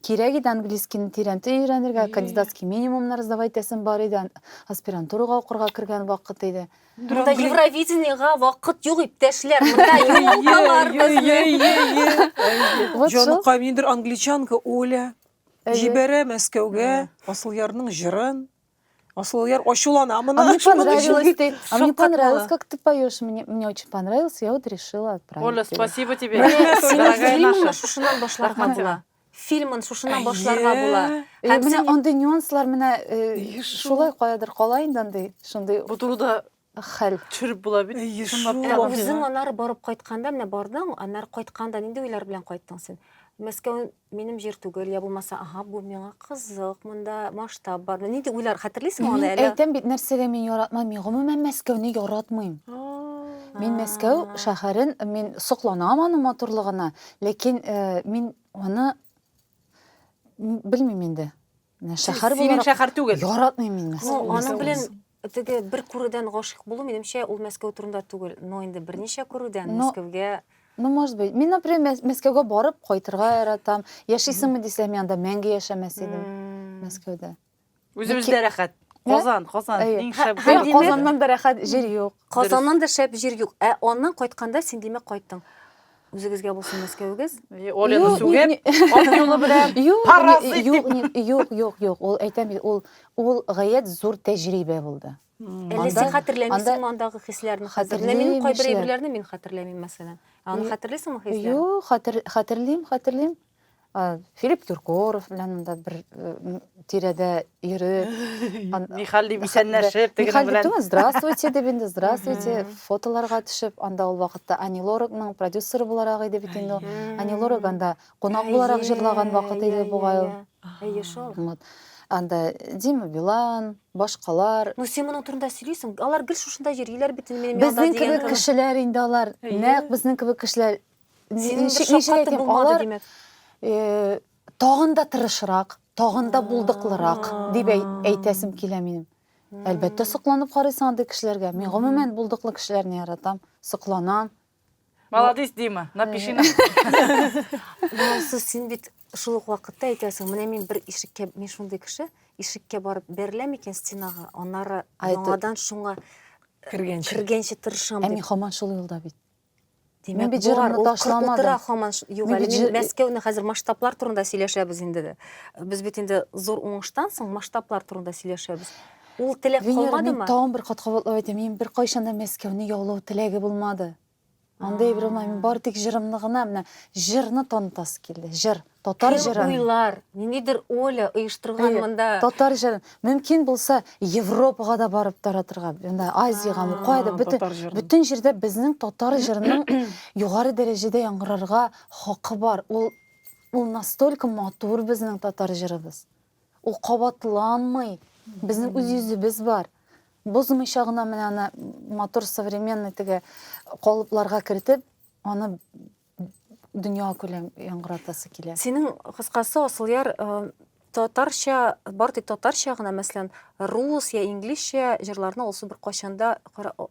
Кирәк иде английскийны тирәнтен өйрәнергә, кандидатский минимумнар сдавать итәсем бар иде, аспирантурага укырга кергән вакыт иде. Монда Евровидениега вакыт юк, иптәшләр, монда елкалар безнең. Җаныкаем, ниндидер англичанка Оля җибәрә Мәскәүгә Асылъярның җырын. Асылъяр ачулана. Моны А мне ачулану өчен понравилось бит ты, а мне шаккатмалы. понравилось, как ты поешь. Мне, мне очень понравилось, я вот решила отправить Оля, тебе. спасибо тебе. Менә Рәхмәт, синең дорогая фильмыңны наша. шушыннан башларга Рәхмәт була. сиңа. Фильмын шушыннан башларга була. Әйе. Э, Һәм менә син- андый нюанслар менә э, Еш шул. шулай каядыр кала инде андый, шундый. Бу турыда Хәл. Төшереп була бит. Әйе, Чынлап шул. Ә үзең аннары барып кайтканда, менә бардың, аннары кайтканда нинди уйлар белән кайттың син? Мәскәү минем җир түгел, я булмаса, ага, бу миңа кызык, монда масштаб бар. Нинди уйлар хәтерлисең аны әле? Әйтәм бит, нәрсәгә мин яратмам, мин гомумән Мәскәүне яратмыйм. Мин Мәскәү шәһәрен, мин сокланам аның матурлыгына, ләкин э, мин аны белмим инде. Менә Шәһәр Синең буларак шәһәр түгел. яратмыйм мин Ну, Мәскәүне. аның белән теге бер күрүдән гашыйк булу, минемчә, ул Мәскәү турында түгел, но инде берничә күрүдән Но- Мәскәүгә Ну, может быть. Мин, например, Мәс- Мәскәүгә барып кайтырга яратам. Яшисеңме дисәм, анда мәңге яшәмәс идем М. Мәскәүдә. Үзебездә рәхәт. Казан, Казан Әйе. иң Һә- шәп. һәм Әйе, димәк- Казаннан да рәхәт җир юк. Казаннан да шәп җир юк. Ә аннан кайтканда син димәк кайттың. Үзегезгә булсын Мәскәвегез. Олены сүгеп, ат юлы белән паразит дип. Юк, юк, юк, ул әйтәм бит, ул ул гаять зур тәҗрибә булды. Әллә син хәтерләмисеңме андагы хисләрне? Хәтерләмим. Мин кайбер әйберләрне мин хәтерләмим мәсәлән. Аны хәтерлисеңме хисләрне? Юк, хәтерлим, хәтерлим. Филипп Киркоров белән монда бер тирәдә йөреп, Михаил дип исәнләшеп, Михаил белән. Түгел, здравствуйте дип инде, здравствуйте, фотоларга төшеп, анда ул вакытта Ани Лоракның продюсеры буларак иде бит инде. Ани Лорак анда кунак буларак җырлаган вакыт иде бугай ул. Әйе шул. Вот. Анда Дима Билан, башкалар. Ну син моның турында сөйлисең. Алар гел шушында йөриләр бит инде минем янда дигән. Безнең кебек кешеләр инде алар. Нәкъ безнең кебек кешеләр тагын да тырышрак тагын да булдыклырак дип әйтәсем килә минем әлбәттә сокланып карыйсың андый кешеләргә мин гомумән булдыклы кешеләрне яратам сокланам молодец дима напиши нам син бит шул ук вакытта әйтәсең менә мин бер ишеккә мин шундый кеше ишеккә барып бәреләм икән стенага аннары яңадан шуңа кергәнче кергәнче тырышам ә мин һаман шул юлда бит Димәк, бит җырларны ташламадым. Хаман юк әле. Мин Мәскәүне хәзер масштаблар турында сөйләшәбез инде дә. Без бит инде зур уңыштан соң масштаблар турында сөйләшәбез. Ул теләк калмадымы? Мин тагын бер кат кабатлап әйтәм, мин бер кайчан да Мәскәүне яулау теләге булмады. Андый бер булмады. Мин бар тик җырымны гына, менә җырны танытасы килде. Җыр. Татар җырын. Кем уйлар? Ниндидер Оля оештырган монда. Татар җырын. Мөмкин булса, Европага да барып таратырга. Монда Азиягә, кайда бөтен бөтен җирдә безнең татар җырының югары дәрәҗәдә яңгырарга хакы бар. Ул ул настолько матур безнең татар җырыбыз. Ул кабатланмый. Безнең үз йөзебез бар. Бозмыйча гына менә аны матур современный теге калыпларга кертеп, аны дөнья күләм яңгыратасы килә. Синең кыскасы Асылъяр э, татарча, бар тик татарча гына, мәсәлән, рус я инглизчә җырларны алсу бер кайчанда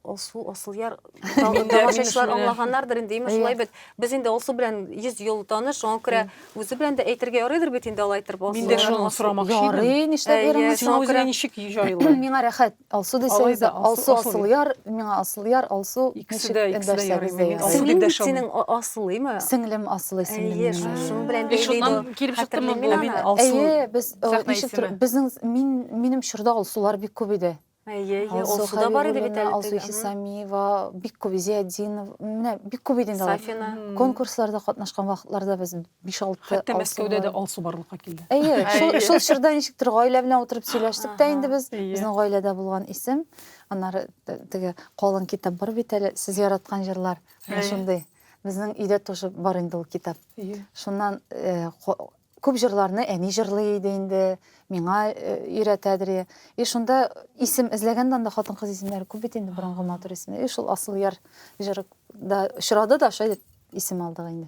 алсу Асылъяр тамашачылар аңлаганнардыр инде, имеш шулай бит. Без инде алсу белән 100 ел таныш, шуңа күрә үзе белән дә әйтергә ярыйдыр бит инде алай торып. Мин дә шуны сорамакчы идем. Ярый, нишләп йөрмисез? Шуңа күрә ничек җайлы? Миңа рәхәт. Алсу дисәгез, Алсу Асылъяр, миңа Асылъяр, Алсу ничек эндәшсәгез дә ярый. Сеңлең бит синең Асылыймы? Сеңлем Асылый сеңлем. Әйе, шуның белән бәйле. Шуннан килеп чыктымы бу мин Алсу? Әйе, без ничектер безнең мин минем чорда Алсулар бик күп иде. Әйе, әйе, Алсу да бар иде бит әле. Алсу Хисамиева, бик күп Зиятдинов, менә бик күп иде инде алар. Сафина. Конкурсларда катнашкан вакытларда без 5-6 Хәтта Мәскәүдә дә алсу барлыкка килде. Әйе, шул шул чорда ничектер гаилә белән утырып сөйләштек тә инде без. Безнең гаиләдә булган исем. Аннары теге калын китап бар бит әле, сез яраткан җырлар. Шундый. Безнең өйдә тоже бар инде ул китап. Шуннан күп җырларны әни җырлый иде инде, миңа өйрәтәдер. И шунда исем эзләгәндә анда хатын-кыз исемнәре күп бит инде, борынгы матур исемнәр. И шул Асылъяр җыры да очрады да, шулай итеп исем алдык инде.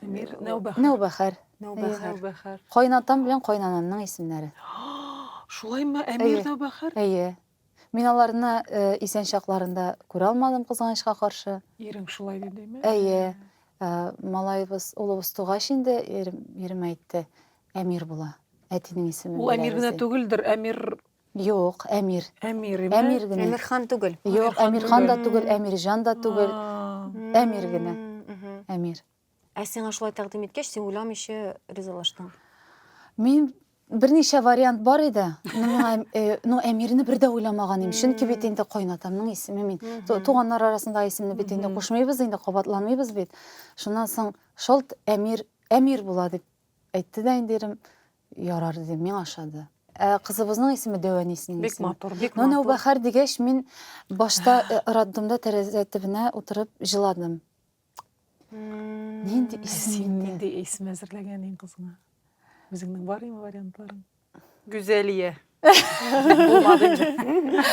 Эмир Нәүбәхәр. Нәүбәхәр. Нәүбәхәр. Нәүбәхәр. Кайнатам белән кайнанамның исемнәре. Шулаймы, Әмир Нәүбәхәр? Әйе. Мин аларны исән чакларында күрә алмадым, кызганычка каршы. Ирең шулай дидеме? Әйе. Малаебыз, улыбыз тугач инде ирем әйтте, Әмир була. Әтинең исеме. Ул Әмир генә түгелдер, Әмир Юк, Әмир. Әмир име? Әмир генә. Әмирхан түгел. Юк, Әмирхан да түгел, Әмирҗан да түгел. Әмир генә. Әмир. Ә сиңа шулай тәкъдим иткәч, син уйламыйча ризалаштың. Мин берничә вариант бар иде. Ну, э, ну Әмирне бер дә уйламаган идем. Чөнки бит инде кайнатамның исеме мин. Туганнар арасында исемне бит инде кушмыйбыз инде, кабатланмыйбыз бит. Шуннан соң шалт Әмир, Әмир була дип әйтте дә инде ирем. Ярар дидем, миңа ошады. Ә кызыбызның исеме Дәвәнисенең Бик исеме. матур, бик Но матур. Нәүбәхәр дигәч, мин башта э, роддомда тәрәзә төбенә утырып җыладым. М, Нинди Ә исем син инде? нинди исем әзерләгән иң кызыңа? Үзеңнең бар име вариантларың? Гүзәлия. Булмады инде.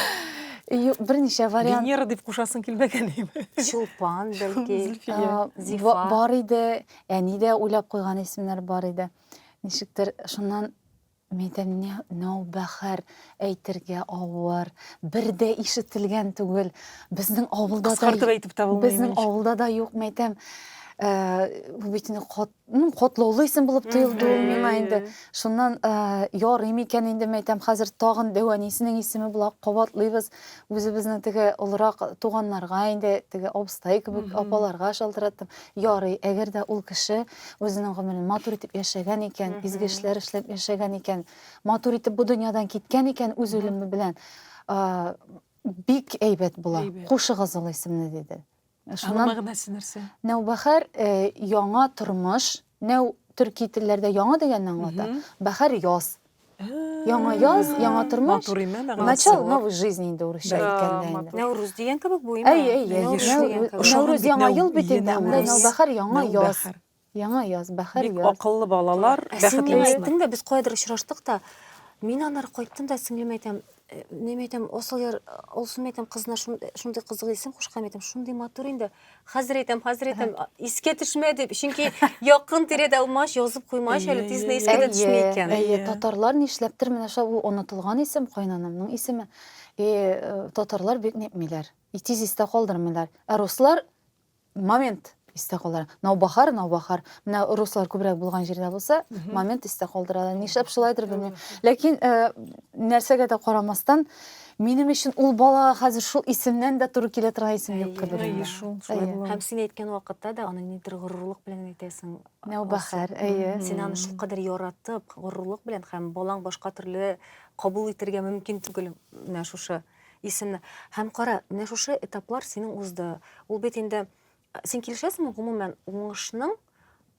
Ю- Берничә вариант Венера дип кушасың килмәгән име? Чулпан, бәлки. Зөлфия. а, Зифа. ба- бар иде, әни дә уйлап куйган исемнәр бар иде. Ничектер шуннан Мәйдәнне нәүбәхәр әйтергә авыр, бер дә ишетелгән түгел. Безнең авылда да Кыскартып әйтеп тә булмый. Безнең авылда да юк, мәйтәм. Бу бит инде котлаулы исем булып тоелды ул миңа инде. Шуннан ярый микән инде мәйтәм, хәзер тагын дәвәнисенең исеме була, кабатлыйбыз. Үзебезнең теге олырак туганнарга инде, теге абыстай кебек апаларга шалтыраттым. Ярый, әгәр дә ул кеше үзенең гомерен матур итеп яшәгән икән, изге эшләр эшләп яшәгән икән, матур итеп бу дөньядан киткән икән үз үлеме белән, а, бик әйбәт була. Әйбәт. Кушыгыз ул исемне, диде. Аның Шуннан мәгънәсе нәрсә? Нәүбәхәр э, яңа тормыш, нәү төрки телләрдә яңа дигәнне аңлата, бәхәр яз, Яңа яз, яңа тормыш. Начал новой жизни инде урысча әйткәндә инде. Нәүрүз дигән кебек бу инде. Әй, әй, әй. Нәүрүз яңа ел бит инде. Анда Нәүбәхәр яңа яз. Яңа яз, бәхәр яз. Бик акыллы балалар, бәхетле. Ә син миңа әйттең дә, без кайдыр очраштык та, мин аннары кайттым да сеңлемә әйтәм, Э, не әйтәм, асыл яр, алсу әйтәм, кызына шундый кызык исем кушкан әйтәм, шундый матур инде. Хәзер әйтәм, хәзер әйтәм, искә төшмә дип. Чөнки якын тирәдә алмаш язып куймаш әле тизне искә дә төшми икән. Әйе, татарлар нишләптер менә шул ул онытылган исем кайнанамның исеме. И э, татарлар бик нитмиләр. И тиз истә калдырмыйлар. Ә руслар момент истә калдыра. Наубахар, наубахар. Менә руслар күбрәк булган җирдә булса, момент истә калдыралар. Нишләп шулайдыр белмим. Ләкин э, нәрсәгә дә карамастан, минем өчен ул балага хәзер шул исемнән дә туры килә торган исем юк кебек. Әйе, шул, шулай Әйе. була. Һәм син әйткән вакытта да аны нидер горурлык белән әйтәсең. Нәүбәхәр, әйе. Син аны шулкадәр яратып, горурлык белән һәм балаң башка төрле кабул итергә мөмкин түгел менә шушы исемле. Һәм кара, менә шушы этаплар синең узды. Ул бит инде син килешәсеңме гомумән уңышның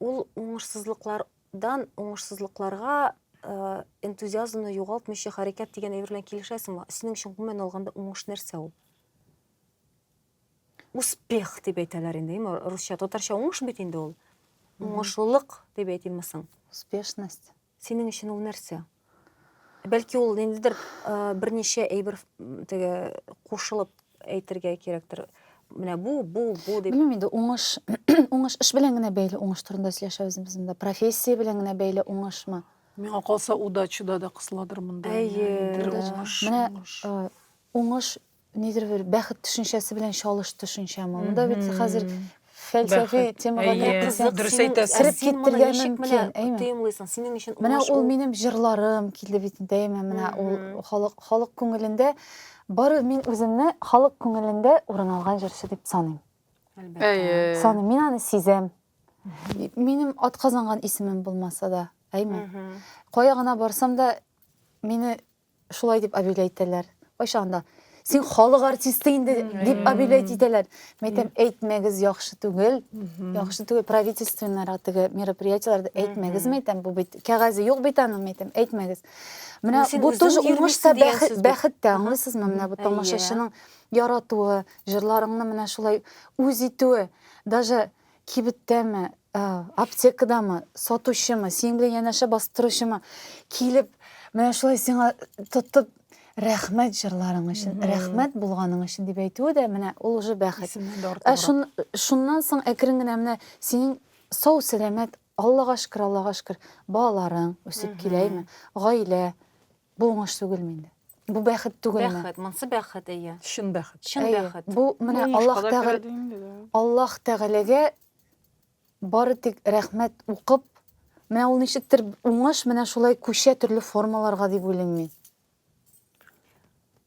ул уңышсызлыклардан уңышсызлыкларга энтузиазмны югалтмыйча хәрәкәт дигән әйбер белән килешәсеңме? Синең өчен гомумән алганда уңыш нәрсә ул? Успех дип әйтәләр инде, әйме, русча, татарча уңыш бит инде ул. Уңышлылык дип әйтимме соң? Успешность. Синең өчен ул нәрсә? Бәлки ул ниндидер берничә әйбер теге кушылып әйтергә кирәктер. Менә бу, бу, бу дип. Белмим инде, уңыш, уңыш эш белән генә бәйле уңыш турында сөйләшәбез без монда. Профессия белән генә бәйле уңышмы? Миңа калса, удачада да кысыладыр монда. Әйе, уңыш. Менә уңыш Нидер бер бәхет төшенчәсе белән чалыш төшенчәме? Монда бит хәзер фәлсәфи темага киттек. Дөрес әйтәсез. Кереп киттергән мөмкин, әйме? Тоемлыйсың, синең өчен уңыш. Менә ул минем җырларым килде бит инде, әйме? Менә ул халык халык күңелендә бары мин үземне халык күңелендә урын алган җырчы дип саныйм. Әлбәттә. Саныйм, мин аны сизәм. Минем атказанган исемем булмаса да, әйме? Кая гына барсам да, мине шулай дип объявлять итәләр. Кайчан да син халык артисты инде дип объявлять итәләр. Мин әйтәм, әйтмәгез, яхшы түгел. Яхшы түгел, правительственныйрак теге мероприятиеләрдә әйтмәгез, мин әйтәм, бу бит кәгазе юк бит аның, мин әйтәм, әйтмәгез. Менә бу тоже уңыш та бәхет тә, аңлыйсызмы? Менә бу тамашачының яратуы, җырларыңны менә шулай үз итүе, даже кибеттәме, ә, аптекадамы, сатучымы, синең белән янәшә басып торучымы килеп, менә шулай сиңа тотып рәхмәт җырларың өчен, рәхмәт булганың өчен дип әйтүе дә менә ул уже бәхет. Исемнән дә Ә артыграк. шун, шуннан соң әкрен генә менә синең сау сәламәт, Аллага шөкер, Аллага шөкер, балаларың үсеп киләме, гаилә, Бу уңыш түгелме инде? Бу бәхет түгелме? Бәхет, монсы бәхет, әйе. Чын бәхет. Чын Әйе. бәхет. Бу менә Уңышка Аллаһ да Тәгалә керә ди инде, да. Аллаһ Тәгаләгә бары тик рәхмәт укып, менә ул ничектер уңыш менә шулай күчә төрле формаларга дип уйлыйм мин.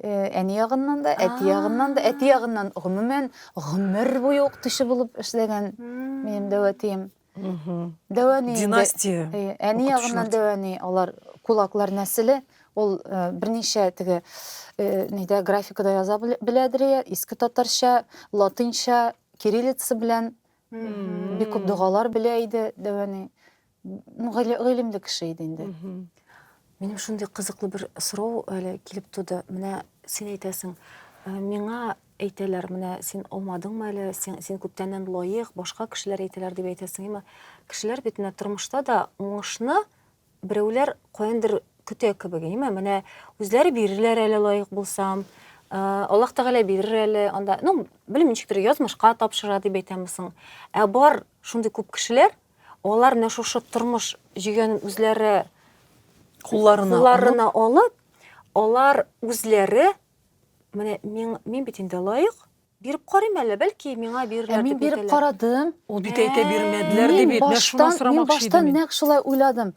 Әни ягыннан да, әти ягыннан да, әти ягыннан гомумән гомер буе укытучы булып эшләгән минем дәвәтием. Дәвәни династия. Әни ягыннан дәвәни, алар кулаклар нәселе. Ул берничә теге нидә графикада яза беләдер, иске татарча, латинча, кириллица белән бик күп догалар белә иде дәвәни. гыйлемле кеше иде инде. Минем шундый кызыклы бер сорау әле килеп туды. Менә син әйтәсең, «Ә, миңа әйтәләр, менә син алмадыңмы әле, син, син күптәннән лаек, башка кешеләр әйтәләр дип әйтәсең. Әмма кешеләр бит менә тормышта да уңышны берәүләр каяндыр көтә кебек, әйеме? Менә үзләре бирерләр әле лаек булсам, ә, Аллаһ Тәгалә бирер әле, анда, ну, белмим, ничектер язмышка тапшыра дип әйтәме соң. Ә бар шундый күп кешеләр, Алар менә шушы тормыш җигәнен үзләре кулларына, кулларына алып, алар үзләре менә мин, мин бит инде лаек, биреп карыйм әле, бәлки миңа бирерләр ә дип әйтәләр. Мин биреп карадым. Ул бит әйтә бирмәделәр дип бит, менә шуны сорамакчы идем. Мин баштан нәкъ шулай уйладым.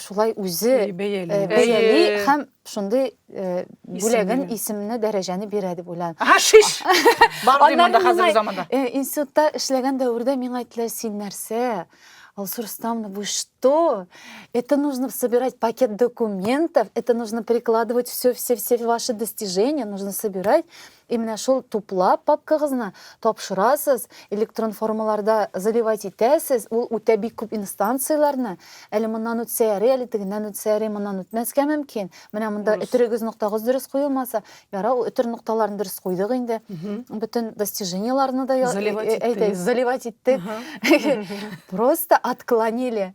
шулай үзе э, бәяли бәяли һәм шундый э, бүләген исемне дәрәҗәне бирә дип уйлам ага шиш бар ди монда хәзерге заманда э, институтта эшләгән дәвердә миңа әйттеләр син нәрсә Алсу Рустамовна, вы что? Это нужно собирать пакет документов, это нужно прикладывать все-все-все ваши достижения, нужно собирать. И менә шул туплап папкагызны тапшырасыз, электрон формаларда заливать итәсез, ул үтә бик күп инстанцияләрне, әле моннан үтсә ярый, әле тегеннән үтсә ярый, моннан үтмәскә мөмкин. Менә монда Дөрес. өтерегез ноктагыз дөрес куелмаса, ярар ул өтер нокталарын дөрес куйдык инде. Бөтен достижениеларны да я- Заливать әй- әйдәгез, иттегез. заливать иттек. Просто отклонили.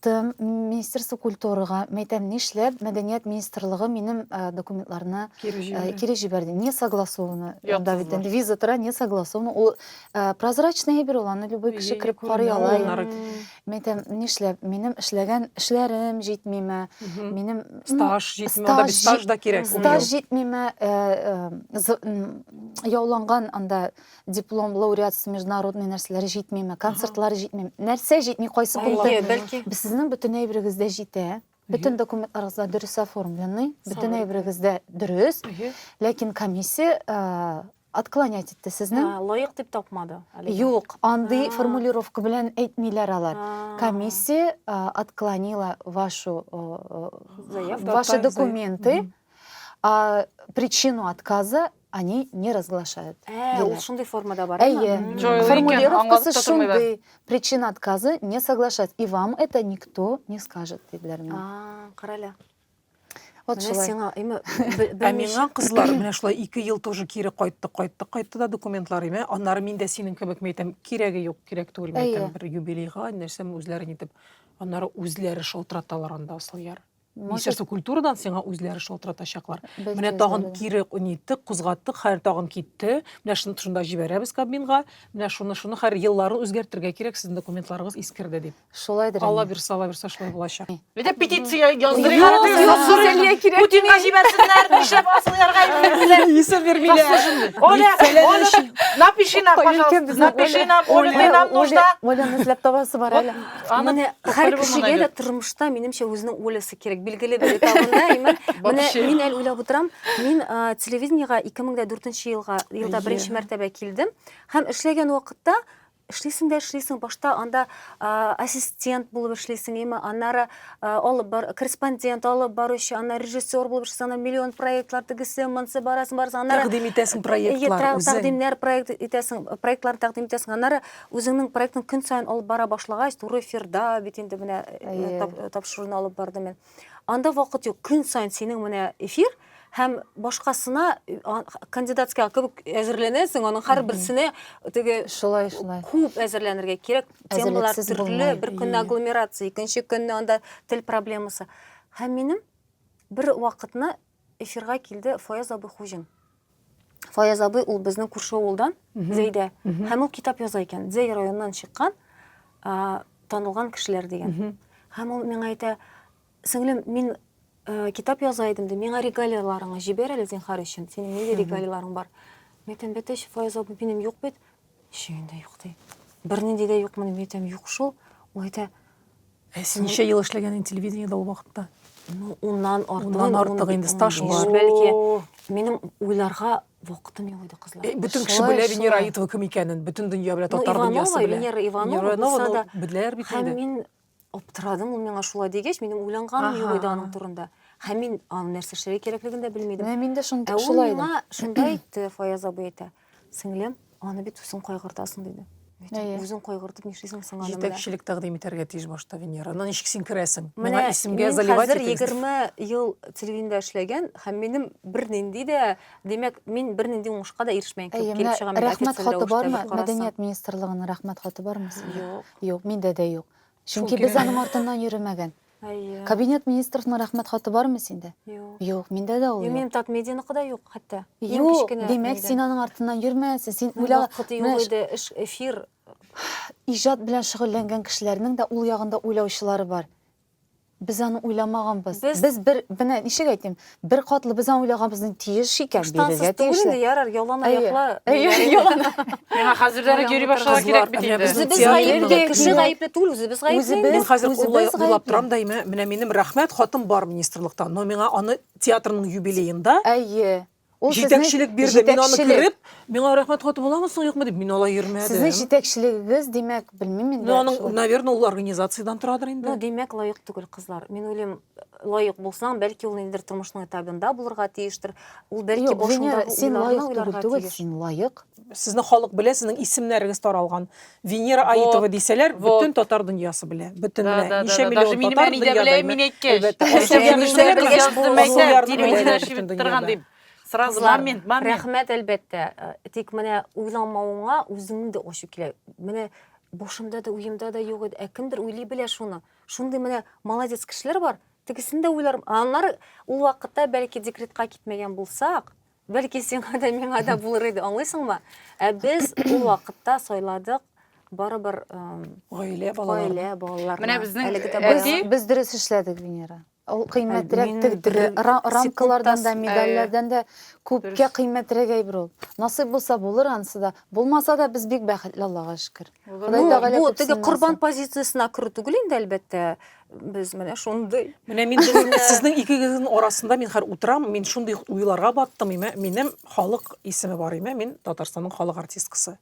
Тым, министерство культурага, мәйтәм, нишләп мәдәният министрлыгы минем документларны кире җибәрде? Не согласованы. Анда бит инде виза тора, не согласованы. Ул прозрачный әйбер ул, аны любой кеше кереп карый ала. Мәйтәм, нишләп, минем эшләгән эшләрем җитмиме, минем стаж җитмиме, анда бит стаж да кирәк. Стаж җитмиме, яуланган анда диплом лауреатство международный нәрсәләр җитмиме концертлар җитмиме нәрсә җитми кайсы пункт сезнең бөтен әйберегез дә җитә бөтен документларыгыз да дөрес оформленный бөтен әйберегез дә дөрес ләкин комиссия отклонять итте сезне лаек дип тапмады юк андый формулировка белән әйтмиләр алар комиссия отклонила вашу ваши документы причину отказа они не разглашают. Ә, ул шундый формада бар. Әйе. Формулировкасы шундый. Причина отказа не соглашать. И вам это никто не скажет, диделәр миңа. А, карале. Вот менә шулай. сиңа име ә миңа кызлар менә шулай ике ел тоже кире кайтты кайтты кайтты да документлар име аннары мин дә синең кебек мәйтәм кирәге юк кирәк түгел мәйтәм бер юбилейга нәрсәм үзләре нитеп аннары үзләре шалтыраталар анда асылъяр Министерство культурадан сиңа үзләре шалтыратачаклар. Менә тагын кире ниттек, кузгаттык, хәер тагын китте. Менә шуны шунда җибәрәбез кабинга. Менә шуны шуны хәер елларын үзгәртергә кирәк, сезнең документларыгыз искерде дип. Шулайдыр. Алла бирсә, Алла бирсә шулай булачак. Бит петиция яздырыйк. Путинга җибәрсеннәр, нишләп асылырга әйтмиләр. Исем бирмиләр. Оля, Оля, напиши нам, пожалуйста. Напиши нам, Оля, нам нужна. Оля, эзләп табасы бар әле. Аны Менә һәр копарып кешегә булмаган дә тормышта, минемчә, үзенең Олясы кирәк. Билгеле бер этабында, имән. Менә Вообще. мин әле уйлап утырам, мин а, телевидениегә 2004 елга, елда Әйе. беренче мәртәбә килдем. Һәм эшләгән вакытта, эшлисең дә эшлисең, башта анда а, ассистент булып эшлисең, имә, аннары а, алып бар, корреспондент, алып баручы, аннары режиссер булып эшлисең, аннары миллион проектлар тегесе, монсы барасың, барасың, аннары Тәкъдим итәсең Ие, проектлар тра- үзең. тәкъдимнәр проект итәсең, проектлар тәкъдим итәсең. Аннары Үзеңнең проектың көн саен алып бара башлагач, туры эфирда бит инде менә тапшыруны алып бардым мин. Анда вакыт юк. Көн саен синең менә эфир һәм башкасына кандидатская кебек әзерләнәсең, аның һәрберсенә теге шулай шулай күп әзерләнергә кирәк. Темалар төрле, бер көнне агломерация, икенче көнне анда тел проблемасы. Һәм минем бер вакытны эфирга килде Фаяз абый Хуҗин. Фаяз абый ул безнең күрше авылдан, Зәйдә. Һәм ул китап яза икән. Зәй районыннан чыккан танылган кешеләр дигән. Һәм ул миңа әйтә, сеңлем, мин э, китап яза идем, ди, миңа регалияларыңны җибәр әле зинхар өчен. Синең нинди регалияларың бар? Мин әйтәм, бәтәч, Фаяз абый, минем юк бит. Өчен дә юк ди. Бернинди дә юкмы дип әйтәм, юк шул. Ул әйтә, Ә син ничә ел эшләгән инде телевидениедә ул вакытта? ну, уннан артык. Уннан артык ун- инде стаж унбиш, бар. Бәлки, О. минем уйларга вакытым юк иде, кызлар. Э, Бөтен кеше Шулай, белә Венера шулай. Аитова кем икәнен, бөтен дөнья белә, Ну, татар дөньясы Иванова, белә. Венера Иванова Иванова булса да, ул беләләр бит Һәм инде. мин аптырадым ул миңа шулай дигәч минем уйланганым юк иде аның турында һәм мин аны нәрсә эшләргә кирәклеген дә белмидем менә мин дә шунда ә шулай миңа шунда әйтте фаяз абый әйтә сеңлем аны бит үзең кайгыртасың диде үзең кайгыртып нишлисең соң аны җитәкчелек тәкъдим итәргә тиеш башта венера ана ничек син керәсең менә исемгә заливать хәзер егерме ел телевидениедә эшләгән һәм минем бернинди дә димәк мин бернинди уңышка да ирешмәгән кебек килеп чыгам рәхмәт хаты бармы мәдәният министрлыгының рәхмәт хаты бармы синдә юк Юк, миндә дә юк. Чөнки без аның артыннан йөремәгән. Әйе. Кабинет министровның рәхмәт хаты бармы синдә? Юк. Юк, миндә дә ул юк. Минем Татмедияныкы да юк хәтта. Юк, димәк, син аның артыннан йөрмәясең. Син уйла. Вакыт юк иде, эш, эфир. Иҗат белән шөгыльләнгән кешеләрнең дә ул ягында уйлаучылары бар. Без аны уйламаганбыз. Без, без бер, менә ничек әйтим, бер катлы без аны уйлаганбыз, тиеш икән, бирергә тиеш. Ярар, ялан аякла. Ялан. Миңа хәзердән үк йөри башларга кирәк бит инде. Үзебез гаепле, кеше гаепле түгел, үзебез гаепле. Мин хәзер уйлап торам да, менә минем рәхмәт хатым бар министрлыкта, но миңа аны театрның юбилеенда. Әйе. Ул сезнең Җитәкчелек бирде. Мин аны җитәкчелек. күреп, миңа рәхмәт хаты буламы соң, юкмы дип, мин алай йөрмәдем. Сезнең җитәкчелегегез, димәк, белмим инде. Ну, аның, шулай. наверное, ул организациядән торадыр инде. Ну, димәк, лаек түгел кызлар. Мин уйлыйм, лаек булсаң, бәлки ул ниндидер тормышның этабында булырга тиештер. Ул бәлки Юк, Венера, башындагы син уйларны лаек түгел, уйларга түгел, тиеш. син лаек. Сезне халык белә, сезнең исемнәрегез таралган. Венера Вот, Аитова дисәләр, вот. бөтен татар дөньясы белә. Бөтен Да, белә. да, да, Ничә да. миллион Даже минем татар әни дә дөньяда белә, белә. мин әйткәч. Әлбәттә. Әни Асылъярны дә беләләрме? белгәч, Язды, бу мәйтә, Асылъярны телевидение беләләр чебен бөтен торган дөньяда. дим. Сразу Кызлар, момент, момент. Рәхмәт, әлбәттә. Э, Тик менә уйламавыңа үзеңнең дә ачу килә. Менә башымда да, уемда да юк иде. Ә кемдер уйлый белә шуны. Шундый менә молодец кешеләр бар. Тегесен дә уйларым. Аннары ул вакытта бәлки декретка китмәгән булсак, Бәлки сиңа да миңа да булыр иде, аңлыйсыңмы? Ә без ул вакытта сайладык барыбер гаилә балалары. Гаилә балалары. Менә безнең без, без дөрес эшләдек, Венера. Ул кыйммәтрәк тегтере, рамкалардан да, медальләрдән дә күпкә кыйммәтрәк әйбер ул. Насыйп булса булыр анысы да. Булмаса да без бик бәхетле, Аллага шөкер. Ходай Тәгалә күп. Бу теге корбан позициясенә керү түгел инде, әлбәттә. без менә шундый менә мин сезнең икегезнең арасында мин хәзер утырам мин шундый уйларга баттым имә минем халык исеме бар имә мин татарстанның халык артисткасы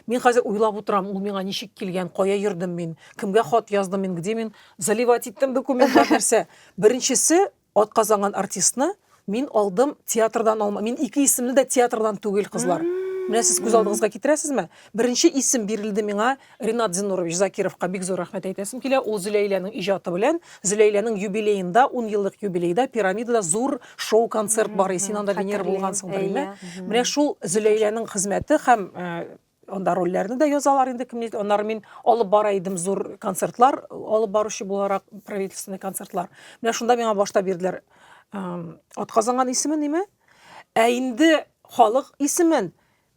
мин хәзер уйлап утырам ул миңа ничек килгән кая йөрдем мин кемгә хат яздым мин где мин заливать иттем документлар нәрсә беренчесе Атказанган артистны мин алдым театрдан алма. Мин ике исемле дә театрдан түгел, кызлар. Менә сез күз алдыгызга китерәсезме? Беренче исем бирелде миңа Ренат Зинурович Закировка бик зур рәхмәт әйтәсем килә. Ул Зөләйләнең иҗаты белән, Зөләйләнең юбилеенда, 10 еллык юбилейда пирамидада зур шоу-концерт бар. Син анда Венера булгансыңдыр, әйме? Менә шул Зөләйләнең хезмәте һәм Анда рольләрне дә язалар инде кем нидә. Аннары мин алып бара идем зур концертлар, алып баручы буларак правительственный концертлар. Менә шунда миңа башта бирделәр атказанган исемен неме? Ә инде халык исемен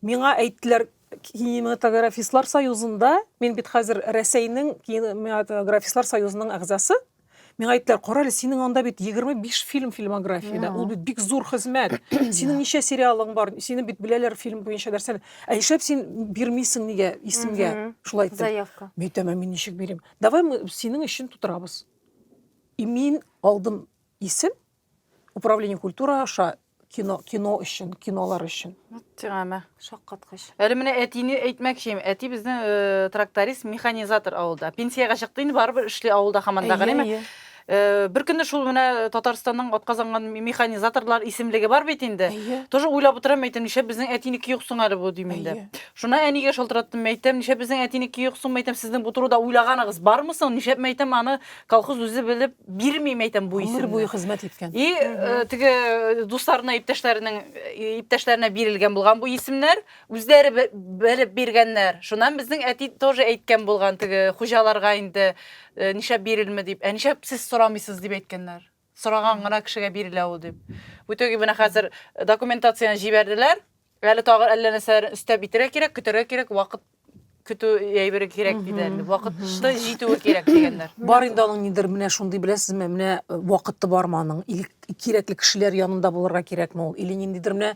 миңа әйттеләр кинематографистлар союзында, мин бит хәзер Рәсәйнең кинематографистлар союзының әгъзасы. Миңа әйттеләр, карале, синең анда бит 25 фильм фильмографияда, ул бит бик зур хезмәт. Синең ничә сериалың бар, сине бит беләләр фильм буенча нәрсәне. Ә нишләп син бирмисең нигә исемгә? Шулай дип. Заявка. Мин әйтәм, мин ничек бирим? Давай мы синең өчен тутырабыз. И мин алдым исем, Управление культура аша кино, кино өчен, кинолар өчен. Тегәмә. Шаккаткыч. Әле менә әтине әйтмәкчем. Әти безнең э, тракторист, механизатор авылда. Пенсиягә чыкты инде барыбер эшли авылда хаман да генеме? Әйе, әйе. Э, Бер көнне шул менә Татарстанның атказанган механизаторлар исемлеге бар бит инде. Әйе. Тоже уйлап утырам әйтәм, нишләп безнең әтинеке юк соң әле бу дим инде. Әйе. Шуна әнигә шалтыраттым, әйтәм, нишләп безнең әтинеке юк соң, әйтәм, сезнең бу турыда уйлаганыгыз бармы соң? Нишләп әйтәм, аны колхоз үзе белеп бирмим әйтәм бу исемне. Гомер буе хезмәт иткән. И э, теге э, дусларына, иптәшләренең э, иптәшләренә бирелгән булган бу исемнәр, үзләре белеп биргәннәр. Шуннан безнең әти тоже әйткән булган теге хуҗаларга инде нишләп бирелме дип. Ә нишләп сез сорамыйсыз дип әйткәннәр. Сораган гына кешегә бирелә ул дип. В итоге менә хәзер документацияне җибәрделәр. Әле тагы әллә нәрсәләрен өстәп итәргә кирәк, көтәргә кирәк, вакыт көтү әйбере кирәк диде әле. Вакытта җитүе кирәк дигәннәр. Бар инде аның нидер менә шундый беләсезме, менә э, вакыты бармы аның? Или кирәкле кешеләр янында булырга кирәкме ул? Или ниндидер менә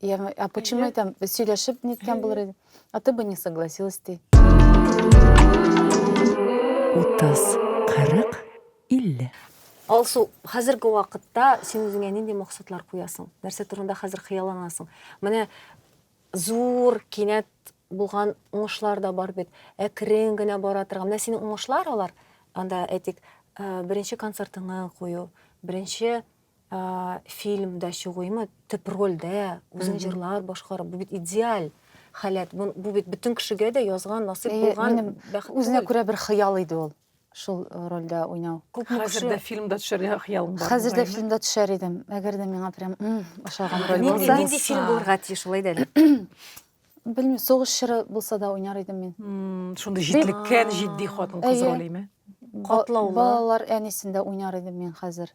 Я говорю, а почему Нет. там сөйләшеп неткән булыр иде? А ты бы не согласилась ди. 30, 40, 50. Алсу, хәзерге вакытта син үзеңә нинди максатлар куясың? Нәрсә турында хәзер хыялланасың? Менә зур, кинәт булган уңышлар да бар бит. Әкрен генә бара торган. Менә синең уңышлар алар. Анда әйтик, э, беренче концертыңны кую, беренче фильмда чыгуймы төп рольдә үзең җырлар башкарып бу бит идеаль халәт бу, бу бит бөтен кешегә дә язган насыйп булган минем бәхет үзенә күрә бер хыял иде ул шул э, рольдә уйнау хәзер дә фильмда төшәргә хыялың бар хәзер дә фильмда төшәр идем әгәр дә миңа прям ошаган роль булса нинди фильм булырга тиеш шулай да белмим сугыш чоры булса да уйнар идем мин шундый җитлеккән җитди хатын кыз ролеме катлаулы балалар әнисендә уйнар идем мин хәзер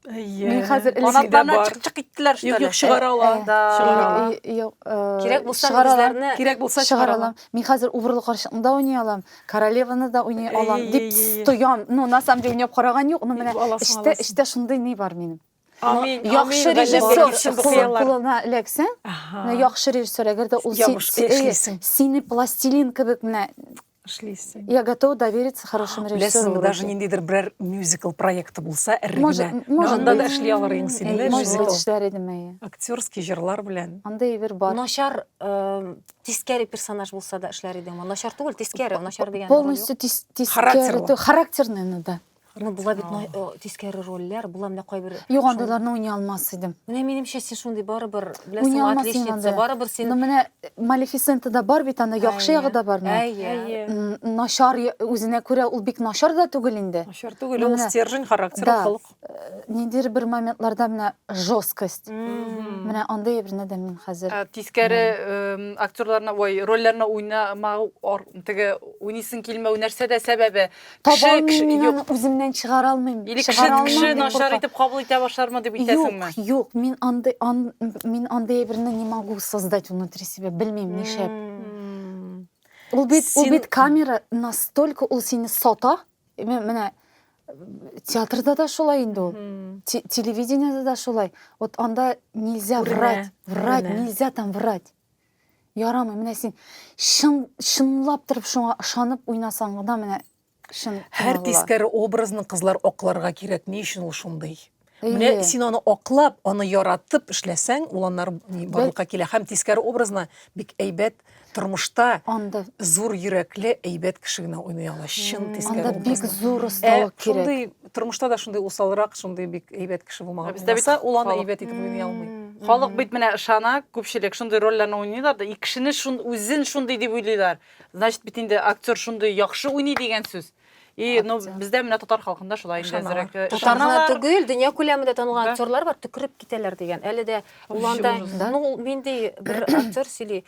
Әйе. Мин хәзер Канатларына чык-чык иттеләр, что ли? Юк, юк, чыгара ала. Да. Чыгара ала. Юк, кирәк булса үзләренә. Кирәк булса чыгара ала. Мин хәзер убырлы карчыкны да уйный алам, королеваны да уйный алам дип стоям. Ну, на самом деле, уйнап караган юк, но менә эштә, эштә шундый ни бар минем. Амин. Яхшы режиссер кулына эләксәң, яхшы режиссер, әгәр дә ул сине пластилин кебек менә эшлисең я готова довериться хорошим режиссерам беләсең даже ниндидер берәр мюзикл проекты булса әр генә анда да эшли алыр ең син эшләр идем әйе актерский җырлар белән андый әйбер бар начар тискәре персонаж булса да эшләр идең начар түгел тискәре начар дигән полностью тискәре характерный да Ну, була бит май- о, тискәре рольләр, була менә кайбер. Юк, шундый- андыйларны уйный алмас идем. Менә минемчә син шундый барыбер, Уйный беләсеңме, алмас син отличница, андый. барыбер Ну, син. менә Малефисентада бар бит анда, яхшы Әйе. ягы да бар. ну. Әйе. М, Начар я- үзенә күрә ул бик начар да түгел инде. Начар түгел, Ну, ул менә. стержень, характер, Да. холык. Ниндидер бер моментларда менә жесткость. Мгм. Менә андый берне дә мин хәзер. Ә, Тискәре эм, актерларына, ой, рольләренә уйнамау, ар- теге уйныйсың килмәү нәрсә дә сәбәбе? Кеше, Табалмыйм кеше, мин юк. аны үземнән чыгара алмыйм. Или кеше, Чыгара алмыйм, кеше дип начар куркам. итеп кабул итә башлармы дип итәсеңме? Юк, юк, мин андый ан, мин андый әйберне не могу создать внутри себя, белмим нишләп. М. Ул бит, ул Син- бит камера настолько ул сине сата. Ме- Менә э, театрда да шулай инде ул. М. Те- Телевидениедә дә шулай. Вот анда нельзя Күренә, врать, врать, күренә. нельзя там врать. Ярамый, менә син чын чынлап торып шуңа ышанып уйнасаң гына менә чын. Һәр тискәре образны кызлар акларга кирәк. Ни өчен ул шундый? Менә син аны аклап, аны яратып эшләсәң, ул аннары барлыкка килә. Һәм тискәре образны бик әйбәт тормышта анда зур йөрәкле, әйбәт кеше генә уйный ала. Чын тискәре образны. Анда бик зур осталык кирәк. тормышта да шундый усалрак, шундый бик әйбәт кеше булмаган. Бездә бит ул аны әйбәт итеп уйный алмый. Халык бит менә ышана, күпчелек шундый рольләрне уйныйлар да, и кешене шун үзен шундый дип уйлыйлар. Значит, бит инде актер шундый яхшы уйный дигән сүз. И, ну, бездә менә татар халкында шулай инде әзрәк. Татарга түгел, дөнья күләмендә танылган актерлар бар, төкереп китәләр дигән. Әле дә уланда, ну, минди бер актер сөйли,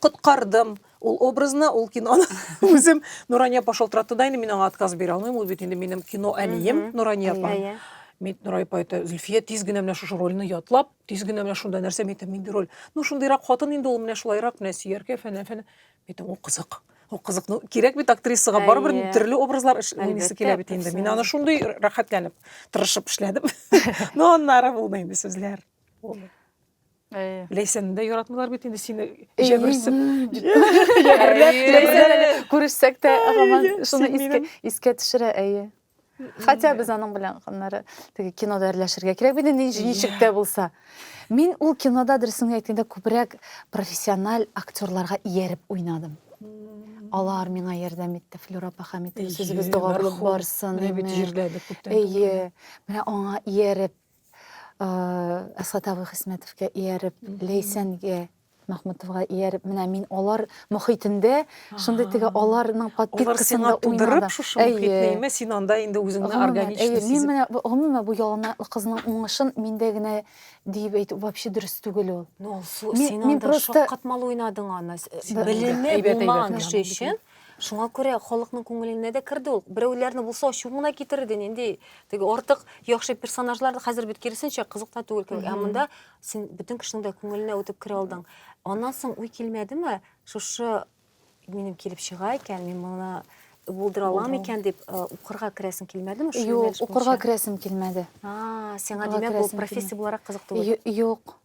коткардым ул образны, ул киноны үзем. Нурания апа шалтыратты да инде, мин аңа отказ бирә алмыйм, ул бит инде минем кино әнием Нурания апа. Әйе. Мин Нурай апа әйтә, Зөлфия тиз генә менә шушы рольне ятлап, тиз генә менә шунда нәрсә әйтә, мин роль. Ну шундыйрак хатын инде ул менә шулайрак менә сөяркә фәнә фәнә. Әйтәм, ул кызык. Ул кызык. Ну кирәк бит актрисага барыбер төрле образлар эшләсе килә бит инде. Мин аны шундый рәхәтләнеп, тырышып эшләдем. Ну аннары булды инде сүзләр. Булды. Әйе. Ләйсәнне дә яратмыйлар бит инде сине җәберсеп. Күрешсәк тә, гаман шуны искә искә төшерә, әйе. Хәтта без аның белән аннары теге кинода әрләшергә кирәк бит инде ничек тә булса. Мин ул кинода дөресен әйткәндә күбрәк профессиональ актерларга ияреп уйнадым. Алар миңа ярдәм итте, Флюра апа Хәмитова сүзебез догалык барсын. Менә бит җирләдек күптән. Әйе. Менә аңа ияреп Әсхат абый Хисмәтовка ияреп, Ләйсәнгә Мәхмүтовга ияреп, менә мин алар мөхитендә, шундый теге аларның подпиткасында уйнадым. Шушы мөхитне имә, син анда инде үзеңне органично сизеп. Мин менә гомумән бу яланаяклы кызның уңышын миндә генә диеп әйтү вообще дөрес түгел ул. Ну, син анда шаккатмалы уйнадың аны. Белеме булмаган кеше өчен Шуңа күрә халыкның күңеленә дә керде ул. Берәүләрне булса ачуын гына китерде, нинди теге артык яхшы персонажлар да хәзер бит киресенчә кызык та түгел кебек. Ә монда син бөтен кешенең дә күңеленә үтеп керә алдың. Аннан соң уй килмәдеме, шушы минем килеп чыга икән, мин моны булдыра алам икән дип э, укырга керәсең килмәдеме? шул Юк, юнәлеш укырга буенча? керәсем килмәде. А, сиңа Укырга димәк ул керәсем профессия буларак кызык түгел. Ю- Юк.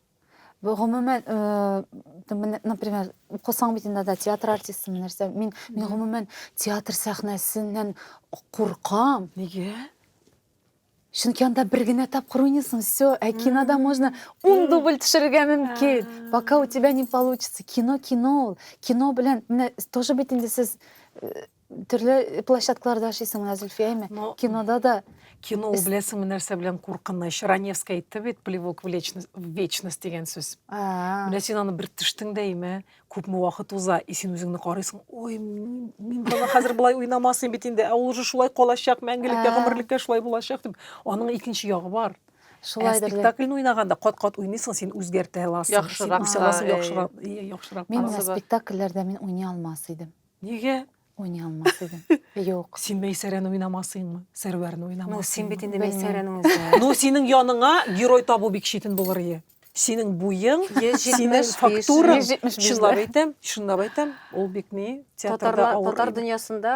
гомумән например укысаң бит инде да театр артистымы нәрсә мин мин гомумән театр сәхнәсеннән куркам нигә чөнки анда бер генә тапкыр уйныйсың все ә кинода можно ун дубль төшерергә мөмкин пока у тебя не получится кино кино ул кино белән менә тоже бит инде сез Төрле площадкаларда эшлисең менә, Зөлфия, әйме? Но... Кинода да. Кино ул беләсеңме нәрсә белән куркыныч? Раневская әйтте бит, плевок в вечность дигән сүз. Менә син аны бер төштең дә әйме, күпме вакыт уза, и син үзеңне карыйсың, ой, мин бала хәзер болай уйнамасын бит инде, ә ул уже шулай калачак, мәңгелеккә, гомерлеккә шулай булачак дип. Аның икенче ягы бар. Шулай ә спектакльне уйнаганда кат-кат уйныйсың, син үзгәртә аласың. Яхшырак. Яхшырак. Мин спектакльләрдә мин уйный алмас идем. Нигә? Уйный алмас идем. Юк. Син Мәйсәрәне уйнамасыңмы? Сәрвәрне уйнамасыңмы? Ну, син бит инде Мәйсәрәнең үзе. Ну, синең яныңа герой табу бик читен булыр ие. Синең буең, синең фактураң, чынлап әйтәм, чынлап әйтәм, ул бик ни театрда авыр. Татар дөньясында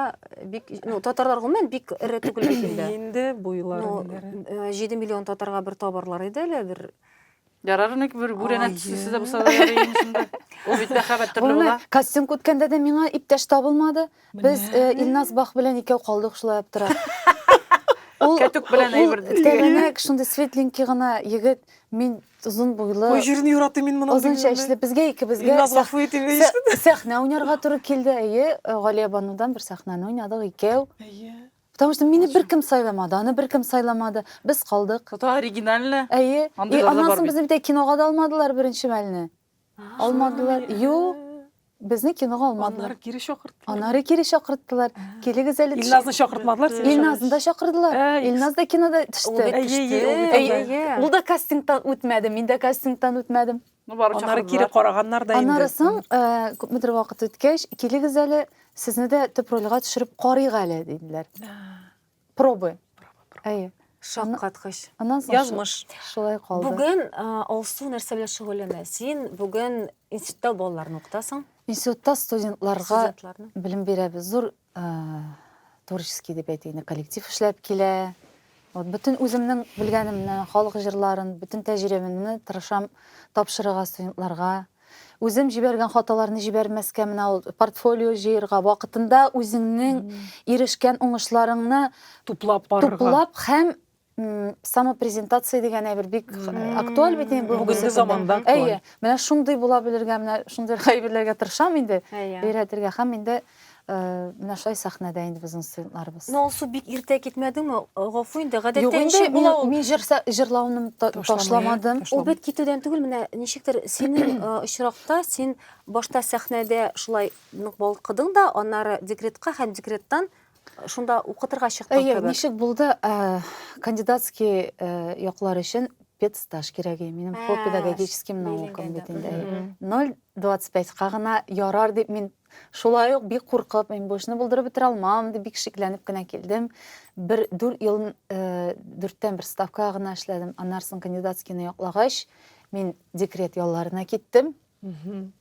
бик, ну, татарлар гомумән бик эре түгел бит инде. Инде буйлары. 7 э, миллион татарга бер табарлар иде әле бер Ярар ник бер бүрәнә төслесе дә булса да ярый иде шунда. Ул бит мәхәббәт төрле Булмый. була. Кастинг үткәндә дә миңа иптәш табылмады. Без Менә. э, Илназ Бах белән икәү калдык шулай аптырап. Ул Кәтүк белән ул әйбер дип. тәбәнәк, шундый светленький гына егет, мин озын Ой, буйлы, җирне яратыйм мин моның. озын чәчле. Безгә икебезгә Илназ сәх- гафу итеп сә- ишетте. сәхнә уйнарга туры килде. Әйе, э, Галиябанудан бер сәхнәне уйнадык икәү. Әйе. Потому что мине беркем сайламады, аны беркем сайламады. Без калдык. Это оригинально. Әйе. И аннан соң безне бит ә кинога да алмадылар беренче мәлне. Алмадылар. Юк. Безне кинога алмадылар. Аннары кире чакырттылар. Аннары кире чакырттылар. Килегез әле. Илназны чакыртмадылар сине. Илназны да чакырдылар. Илназ да кинода төште. Ул да кастингтан үтмәде, мин дә кастингтан үтмәдем. Ну, бары Аннары кире чакырдылар. караганнар да инде. Аннары соң, э, күпмедер вакыт үткәч, килегез әле, сезне дә төп рольгә төшереп карыйк әле, диделәр. Пробы. Әйе. Шаккаткыч. Аннан соң шу- Язмыш. шулай калды. Бүген э, Алсу нәрсә белән шөгыльләнә? Син бүген институтта балаларны укытасың, Институтта студентларга студентларны. белем бирәбез. Зур Творческий дип әйтик, коллектив эшләп килә. Вот бөтен үземнең белгәнемне, халык җырларын, бөтен тәҗрибәмне тырышам тапшырырга студентларга. Үзем җибәргән хаталарны җибәрмәскә, менә ул портфолио җыерга, вакытында үзеңнең ирешкән уңышларыңны туплап барырга. Туплап һәм самопрезентация дигән әйбер бик актуаль бит инде бүгенге заманда әйе менә шундый була белергә менә шундый әйберләргә тырышам инде өйрәтергә һәм инде менә шулай сәхнәдә инде безнең студентларыбыз ну алсу бик иртә китмәдеңме гафу инде гадәттәгечә була ул мин җырлауны ташламадым ул бит китүдән түгел менә ничектер синең очракта син башта сәхнәдә шулай нык балкыдың да аннары декретка һәм декреттан шунда укытырга чыктың кебек. Әйе, ничек булды? Э, кандидатский э, яклар өчен педстаж кирәк иде. Минем по педагогическим наукам бит инде. 0.25-ка гына ярар дип мин шулай ук бик куркып, мин бу эшне булдырып бетерә алмам дип бик шикләнеп кенә килдем. Бер 4 ел 4-тән э, бер ставка гына эшләдем. Аннан соң кандидатскийны яклагач, мин декрет ялларына киттем.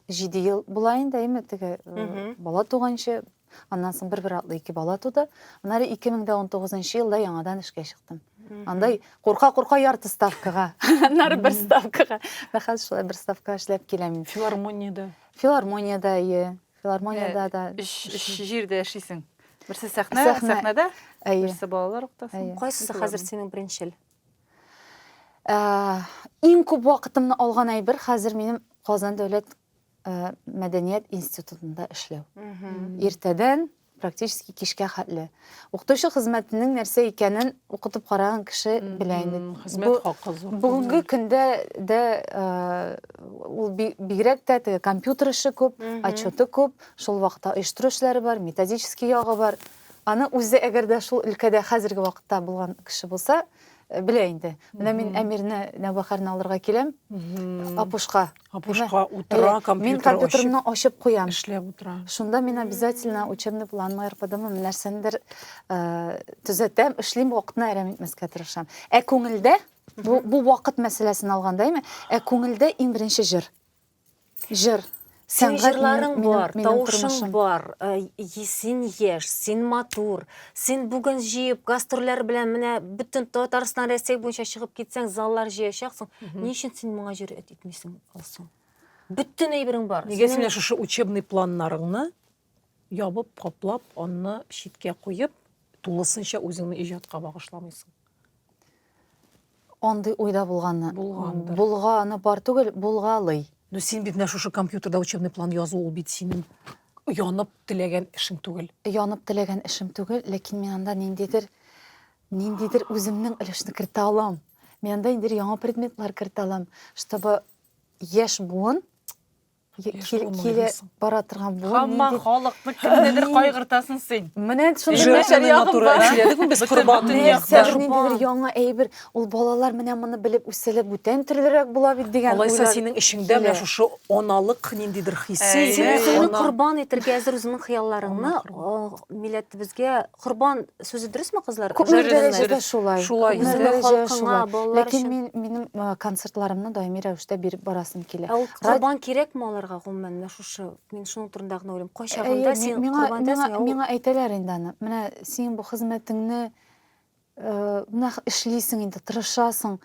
Җиде ел була инде, әйме, теге э, бала туганчы. Аннан соң бер-бер атлы ике бала туды. Аннары 2019 елда яңадан эшкә чыктым. Андай курка-курка ярты ставкага, аннары бер ставкага. Менә хәзер шулай бер ставкага эшләп киләм. Филармониядә. Филармониядә, ие. Филармониядә да. Өч өч җирдә яшисең. Берсе сәхнә, Сәхнә. сәхнәдә, Әйе. берсе балалар уктасын. Әйе. Кайсысы хәзер синең беренчел? Ә, иң күп вакытымны алган әйбер хәзер минем Казан дәүләт ә, мәдәният институтында эшләү. Иртәдән практически кичкә хәтле. Укытучы хезмәтенең нәрсә икәнен укытып караган кеше белә инде. Хезмәт хакы зур. Бүгенге көндә дә ул бигрәк тә теге компьютер эше күп, отчеты күп, шул вакытта оештыру эшләре бар, методический ягы бар. Аны үзе әгәр дә шул өлкәдә хәзерге вакытта булган кеше булса, белә инде. Менә мин Әмирне, Нәүбәхәрне алырга киләм, Апушка. Апушка утыра, компьютер ачып. Мин компьютерны ачып куям. Эшләп утыра. Шунда мин обязательно учебный планмы, РПДмы, нәрсәндер төзәтәм, эшлим, вакытны әрәм итмәскә тырышам. Ә күңелдә, бу вакыт мәсьәләсен алганда, әйме, ә күңелдә иң беренче җыр. Җыр. Син җырларың бар, тавышың бар, син яшь, син матур, син бүген җыеп гастрольләр белән менә бөтен Татарстан, Россия буенча чыгып китсәң, заллар җыячаксың. Ни өчен син моңа җөрьәт итмисең, Алсу? Бөтен әйберең бар. Нигә син менә шушы учебный планнарыңны Ябып, каплап, анны читкә куеп, тулысынча үзеңне иҗатка багышламыйсың. Андый уйда булганны. Булгандыр. Булганы бар түгел, булгалый. Ну син бит менә шушы компьютерда учебный план язу ул бит синең янып теләгән эшең түгел. Янып теләгән эшем түгел, ләкин мин анда ниндидер ниндидер үземнең өлешне кертә алам. Мин анда инде яңа предметлар кертә алам, чтобы яшь буын киле бара торган буын хамма халыкны кемнедер кайгыртасың син менә шундыйдер яңа әйбер ул балалар менә моны белеп үсәләр бүтән төрлерәк була бит дигән алайса синең эчеңдә менә шушы аналык ниндидер хисе син үзеңне корбан итәргә әзер үзеңнең хыялларыңны милләтебезгә Корбан сүзе дөресме, кызлар? Күпмедер дәрәҗәдә шулай. Шулай. Күпмедер халкыңа, балалар Ләкин өчен. мин минем а, концертларымны даими рәвештә биреп барасым килә. Ә ул Рад- корбан кирәкме аларга гомумән? Менә шушы мин шуның турында гына уйлыйм. Әйе, Кайчагында ми- син миңа, корбан миңа, итәсең, ә ул миңа әйтәләр инде аны. Менә син бу хезмәтеңне э, менә х- эшлисең инде, тырышасың.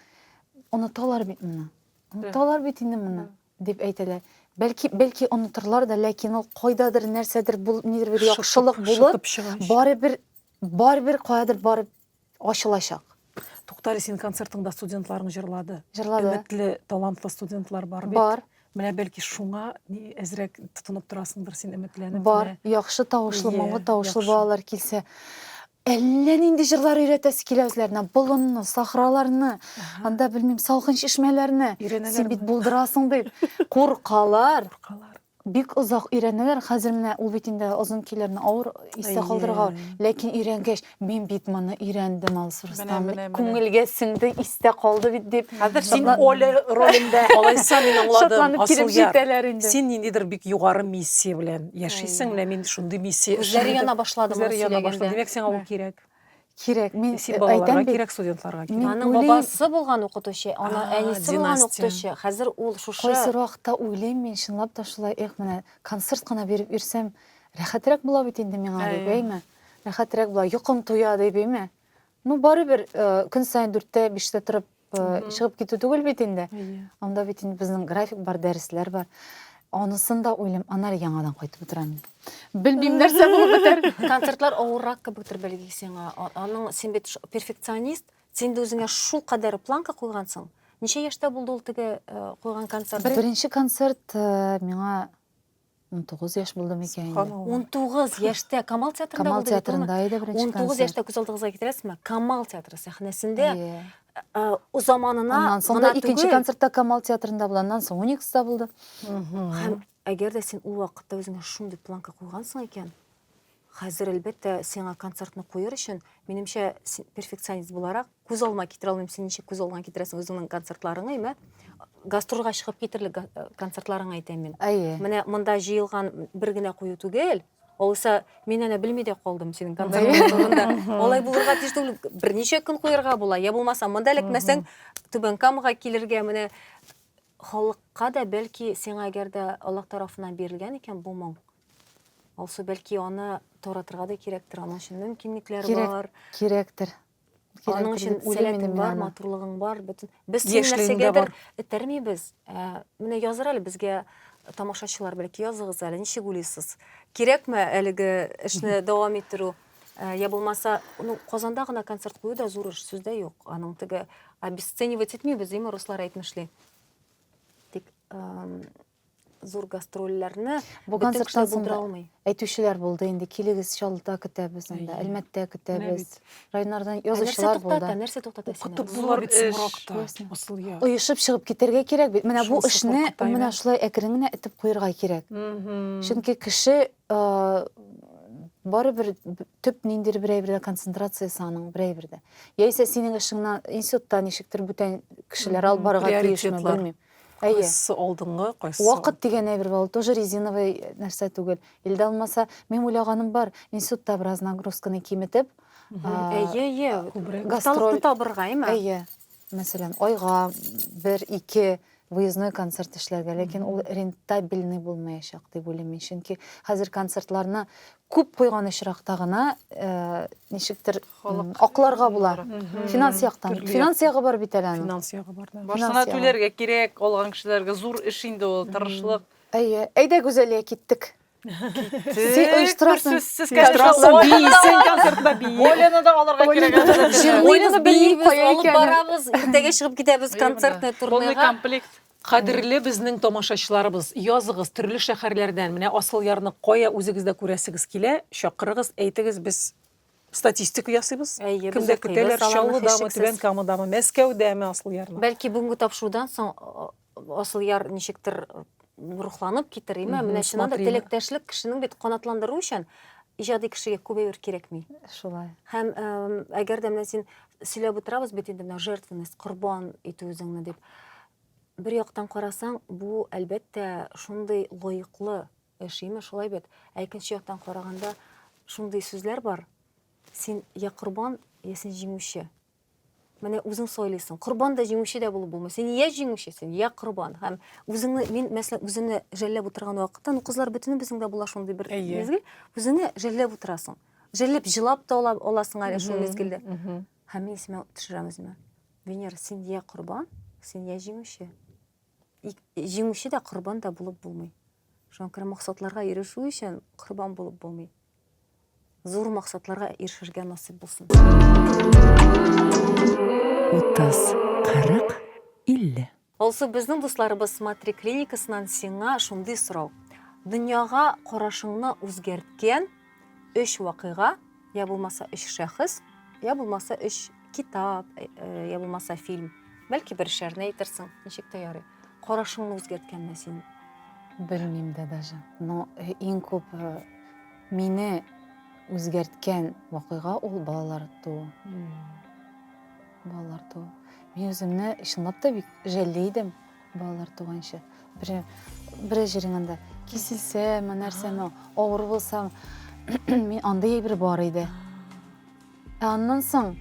Оныталар бит моны. Оныталар бит инде моны. Дип әйтәләр. Бәлки, бәлки онытырлар да, ләкин ул кайдадыр нәрсәдер бул, нидер бер яхшылык булып, барыбер, барыбер каядыр барып ачылачак. Туктале, син концертыңда студентларың җырлады. Җырлады. Өметле, талантлы студентлар бар бит. Бар. Менә бәлки шуңа ни әзрәк тотынып торасыңдыр син өметләнеп. Бар, яхшы тавышлы, моңлы тавышлы балалар килсә. Әллә нинди җырлар өйрәтәсе килә үзләренә. Болынны, сахраларны, анда белмим, салкын чишмәләрне. Син бит булдырасың дип куркалар. Куркалар. Бик озак өйрәнәләр. Хәзер менә ул бит инде озын көйләрне авыр истә калдырырга. Ләкин өйрәнгәч, мин бит моны өйрәндем, Алсу Рөстәм. Күңелгә сеңде, истә калды бит дип. Хәзер син Оля ролендә. Алайса мин аңладым. Шатланып килеп җитәләр инде. Син ниндидер бик югары миссия белән яшисең, менә мин шундый миссия. Күзләре яна башлады моны сөйләгәндә. Димәк, сиңа ул кирәк. Кирәк. Мин син балаларга кирәк, студентларга кирәк. Аның бабасы булган укытучы, аның әнисе булган укытучы. Хәзер ул шушы. Кайсы вакытта уйлыйм мин, чынлап та шулай, эх, менә концерт кына биреп йөрсәм, рәхәтрәк була бит инде миңа дип, әйме? Рәхәтрәк була, йокым туя дип, әйме? Ну, барыбер көн саен дүрттә, биштә торып чыгып китү түгел бит инде. Анда бит инде безнең график бар, дәресләр бар. Анысын да уйлым, ана әле яңадан кайтып утырам. Белмим нәрсә булып бетәр. Концертлар авыррак кебектер белги сиңа. Аның син бит перфекционист, син дә үзеңә шул кадәр планка куйгансың. Ничә яшьтә булды ул теге куйган концерт? Беренче концерт миңа 19 яшь булды микән инде? Субханалла. 19 яшьтә Камал театрында Камал булды бит, театрында Томар? иде беренче 19 концерт. яшьтә күз алдыгызга китерәсезме? Камал театры сәхнәсендә Иә. э, о заманына Аннан соң да гына икенче түгел. концертта Камал театрында булды, аннан соң Уникста булды. Һәм әгәр дә син ул вакытта үзеңә шундый планка куйгансың икән, Хәзер, әлбәттә, сиңа концертны куер өчен, минемчә, син перфекционист буларак, күз алма китерә алмыйм, син ничек күз алма китерәсең үзеңнең концертларыңа, имә, гастрольгә чыгып китерлек э, концертларыңа әйтәм мин. Әйе. Менә монда җыелган бер генә кую түгел, Алайса, мин әнә белми дә калдым синең концертлар турында. Алай булырга тиеш түгел. Берничә көн куярга була. Я булмаса, монда эләкмәсәң, Түбән Камага килергә менә халыкка да бәлки сиңа әгәр дә Аллаһ тарафыннан бирелгән икән бу моң, Алсу, бәлки аны таратырга да кирәктер, аның өчен мөмкинлекләр Кирәк, бар. Кирәктер. Аның өчен сәләтең бар, матурлыгың бар, бөтен. Без сине нәрсәгәдер этәрмибез. Ә, менә языр әле безгә тамашачылар бәлки языгыз әле, ничек уйлыйсыз? Кирәкме әлеге эшне дәвам иттерү? Ә, я булмаса, ну, Казанда гына концерт кую да зур эш, сүздә юк. Аның теге обесценивать итмибез, димме, руслар әйтмешли. Тик, зур гастрольләрне бөтен кешеләр булдыра алмый. Әйтүчеләр булды инде, килегез, Чаллыда көтәбез анда, Әлмәттә көтәбез. Районнардан язучылар булды. Нәрсә туктата, нәрсә туктата сине? Булыр бит Сумракта, Асыл яр. Оешып чыгып китәргә кирәк бит. Менә бу эшне менә шулай әкрен генә итеп куерга кирәк. Чөнки кеше барыбер төп ниндидер бер әйбердә концентрациясе аның бер әйбердә. Яисә синең эшеңне институтта ничектер бүтән кешеләр алып барырга тиешме, белмим. Әйе. Кайсы алдынгы, кайсы Вакыт дигән әйбер бар, ул тоже резиновый нәрсә түгел. Илдә алмаса, мин уйлаганым бар, институтта бераз нагрузканы киметеп, Әйе, әйе. Гастроль табырга, әйме? Әйе. Мәсәлән, айга бер, ике выездной концерт эшләргә, ләкин ул рентабельный булмаячак дип уйлыйм мин, чөнки хәзер концертларны күп куйган очракта гына э, ничектер Акларга була. Финанс яктан. Финанс ягы бар бит әле аның. Финанс ягы бар. Башына түләргә кирәк, алган кешеләргә зур эш инде ул, тырышлык. Әйе. Әйдә, Гүзәлия, киттек. Син оештырасың. Сез оештырасың. Син концертта бии. Олены да алырга кирәк. Олены бии, алып барабыз, иртәгә чыгып китәбез концертный турнега. Полный комплект. Кадерле безнең тамашачыларыбыз, языгыз төрле шәһәрләрдән. Менә Асылъярны кая үзегез дә күрәсегез килә, чакырыгыз, әйтегез, без статистика ясыйбыз. Әйе, без Кемдә укыйбыз, көтәләр, аларны Чаллыдамы, һичшиксез. Түбән Камадамы, Мәскәүдәме Асылъярны? Бәлки бүгенге тапшырудан соң а, Асылъяр ничектер э, рухланып китер, име? Мгм, Менә чыннан да смотрим. теләктәшлек кешенең бит канатландыру өчен иҗади кешегә күбәер кирәкми. Шулай. Һәм эм, әгәр дә менә син сөйләп утырабыз бит инде менә жертвенность, корбан итү үзеңне дип. Бер яктан карасаң, бу әлбәттә шундый лаеклы Э, Шимә, шулай бит. Ә икенче яктан караганда, шундый сүзләр бар. Син я корбан, я син җиңүче. Менә үзең сойлыйсың. Корбан да җиңүче дә булып булмый. Син я җиңүчесен, я корбан. Һәм үзеңне мин мәсәлән үземне жәлләп утырган вакытта, ну кызлар бөтенебезнең дә була шундый бер мизгел, үзеңне жәлләп утырасың. Жәлләп җылап та ала, аласың әле шул мизгелдә. Һәм мин сиңа төшерәм үземә. Венера, син я корбан, син я җиңүче. Җиңүче дә корбан да булып булмый. Шуңа күрә максатларга ирешү өчен корбан булып булмый. Зур максатларга ирешергә насыйп булсын. 30, 40, 50. Алсу, безнең дусларыбыз Смотри клиникасыннан сиңа шундый сорау. Дөньяга карашыңны үзгәрткән өч вакыйга, я булмаса өч шәхес, я булмаса өч китап, э, э, я булмаса фильм. Бәлки бер шәрне әйтерсең, ничек тә ярый. Карашыңны үзгәрткәнме син? Белмим дә даже. Но э, иң күп э, мине үзгәрткән вакыйга ул балалар туу. Балалар туу. Мин үземне чынлап та бик жәлли идем балалар туганчы. Бер бер җирен анда киселсәме, нәрсәме, авыр булсам, мин андый әйбер бар иде. Ә аннан соң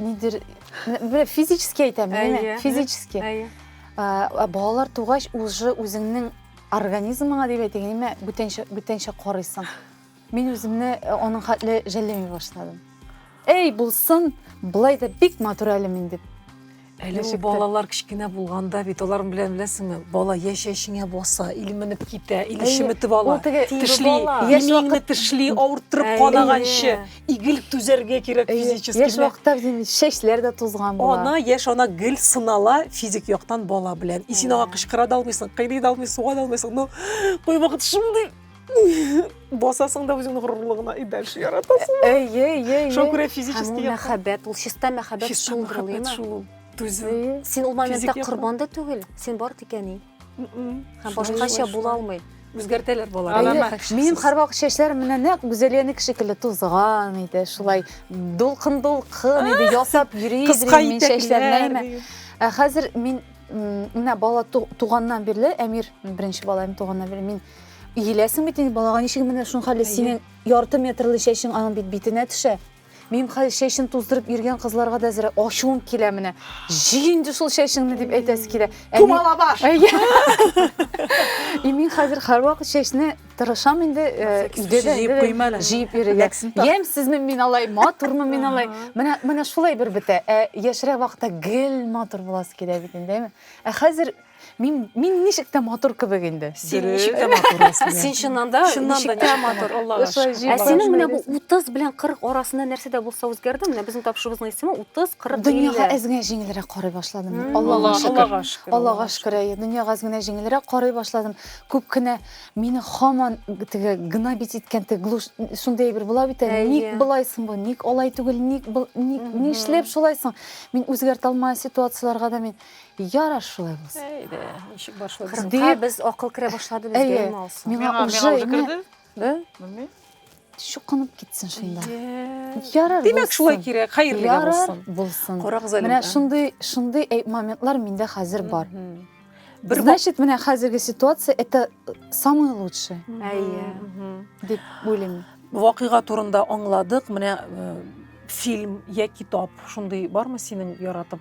нидер бер физически әйтәм, әйе, физически. Әйе. Ә, балалар тугач уже үзеңнең организмыңа дип әйтәйме, бүтәнчә бүтәнчә карыйсың. Мин үземне э, аның хәтле жәлләми башладым. Эй, булсын, былай да бик матур әле мин дип. Әле ул балалар кечкенә булганда бит алар белән беләсеңме, бала йә чәчеңә баса, или менеп китә, или чеметеп ала, тешли, имиңне тешли, авырттырып канаганчы, игел түзәргә кирәк физически. Яшь вакытта чәчләр дә тузган була. Ана, яшь ана гел сынала физик яктан бала белән. И син аңа кычкыра да алмыйсың, кыйный да алмыйсың, суга да алмыйсың, но кайвакыт шундый басасың да үзеңнең горурлыгына и дальше яратасың әйе әйе шуңа күрә физически мәхәббәт ул чиста мәхәббәт шул мәхәббәт шул түзү син ул моментта корбан да түгел син бар тикәни һәм башкача була алмый үзгәртәләр балалар минем һәрвак чәчләрем менә нәкъ гүзәлиянеке шикелле тузган иде шулай дулкын дулкын иде ясап йөри мин чәчләрне ә хәзер мин менә бала туганнан бирле әмир беренче балам туганнан бирле мин Иеләсең бит инде балага ничек менә шуның хәле синең ярты метрлы чәчең аның бит битенә төшә. Минем хәзер чәчен туздырып йөргән кызларга да әзер ачуым килә менә. Җи инде шул чәчеңне дип әйтәсе килә. Тумала баш. И мин хәзер һәрвакыт чәчне тырышам инде э, өйдә дә җыеп куймала. Җыеп йөрергә. Ямьсезме мин алай, матурмы мин алай? Менә менә шулай бер бетә. Ә яшьрәк вакытта гел матур буласы килә бит инде, әйме? Ә хәзер Мин, мин ничек тә матур кебек инде. Син ничек тә матур Әсмә. Син чыннан да ничек тә матур, Аллага шөкер. Ә синең менә бу 30 белән 40 арасында нәрсә дә булса үзгәрде? Менә безнең тапшырыбызның исеме 30, 40, 50. Дөньяга әз генә җиңелрәк карый башладым. Аллага шөкер. Аллага шөкер, әйе. Дөньяга әз генә җиңелрәк карый башладым. Күп кенә мине һаман теге гнобить иткән теге глуш шундый әйбер була бит әле. Ник болай соң бу? Ник алай түгел? Ник, ник, нишләп шулай соң? Мин үзгәртә алмаган ситуацияләргә дә мин Ярар шулай булсын. Әйдә, ничек башладык? Кырыкка без акыл керә башлады безгә Әйе. инде алсын. Миңа Миңа уже уже инде керде? Бе? Белмим. чукынып китсен шунда. Йә. Ярар Димәк, шулай булсын. кирәк. Хәерле дә Ярар булсын. булсын. Карагыз әле. Менә шундый шундый әй- моментлар миндә хәзер бар. Мгм. Бер вак- Значит, менә хәзерге ситуация это самое лучшее Әйе. Мгм. дип уйлыйм. Вакыйга турында аңладык. Менә э, фильм я китап шундый бармы синең яратып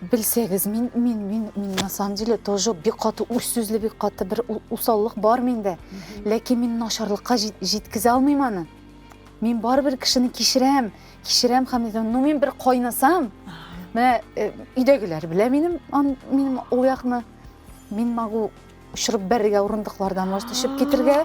Белсәгез, мин, мин, мин, мин на самом деле тоже бик каты үз сүзле, бик каты бер усаллык бар миндә. Ләкин мин начарлыкка җиткезә алмыйм аны. Мин барыбер кешене кичерәм, кичерәм һәм ну мин бер кайнасам, менә э, өйдәгеләр белә минем, минем ул якны. Мин могу очырып бәрергә урындыклардан, может, төшеп китергә.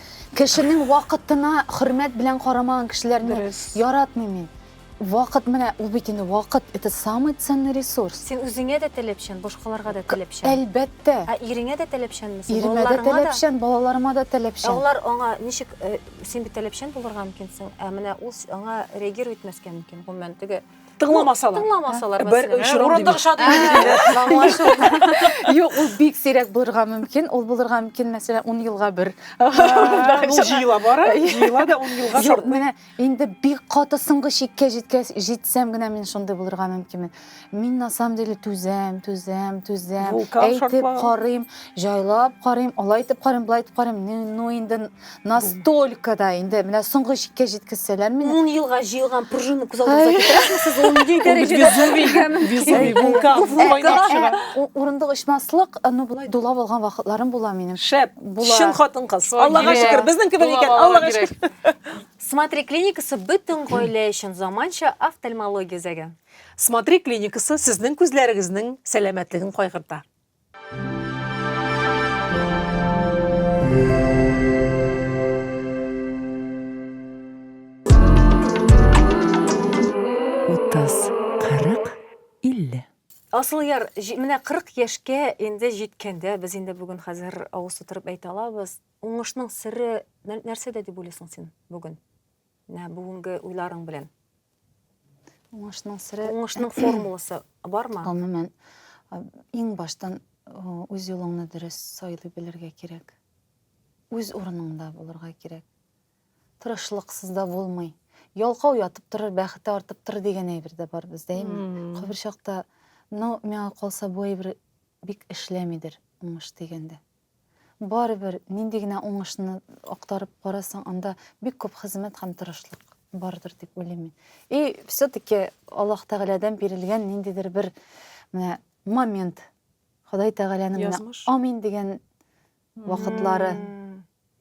Кешенең вакытына хөрмәт белән карамаган кешеләрне Дөрес. яратмыйм мин. Вакыт менә ул бит инде вакыт, это самый ценный ресурс. Син үзеңә дә таләпчән, башкаларга да таләпчән. Әлбәттә. Ә иреңә дә таләпчән мисең? Иремә дә таләпчән, балаларыма да таләпчән. Ә алар аңа ничек, э, син бит таләпчән булырга мөмкинсең, ә менә ул аңа реагировать итмәскә мөмкин, гомумән, теге Тыңламасалар. Тыңламасалар мәсәлән. Урында кыша дигән. Юк, ул бик сирәк булырга мөмкин. Ул булырга мөмкин, мәсәлән, 10 елга бер. Ул җыела бара, җыела да 10 елга шарт. Менә инде бик каты соңгы чиккә җиткәч, җитсәм генә мин шундый булырга мөмкинмен. Мин на самом деле түзәм, түзәм, түзәм. Әйтеп карыйм, җайлап карыйм, алай итеп карыйм, болай итеп карыйм. Ну инде Настолько да инде менә соңгы чиккә җиткезсәләр мине. Ун елга җыелган пружина күз алдыгызга китерәсезме сез? Ул нинди дәрәҗәдә? Везувий, вулкан кайнап чыга. Урындык очмаслык, ну болай дулап алган вакытларым була минем. Шәп, чын хатын-кыз. Аллага шөкер, безнең кебек икән, Аллага шөкер. Смотри клиникасы бөтен гаилә өчен заманча офтальмология үзәге. Смотри клиникасы сезнең күзләрегезнең сәламәтлеген кайгырта. Асылъяр, менә 40 яшькә инде җиткәндә, без инде бүген хәзер авыз тутырып әйтә алабыз, уңышның сере нәрсәдә дип уйлыйсың син бүген? Менә бүгенге уйларың белән. Уңышның сире. Уңышның формуласы бармы? Гомумән, иң баштан үз юлыңны дөрес сайлый белергә кирәк. Үз урыныңда булырга кирәк. Тырышлыксыз да булмый. Ялкау ятып торыр, бәхете артып тор дигән әйбер дә бар бездә, әйме? Кайбер чакта, ну, миңа калса, бу әйбер бик эшләмидер, уңыш дигәндә. Барыбер, нинди генә уңышны актарып карасаң, анда бик күп хезмәт һәм тырышлык бардыр дип уйлыйм мин. И все-таки Аллаһ Тәгаләдән бирелгән ниндидер бер менә момент. Ходай Тәгаләнең менә амин дигән вакытлары.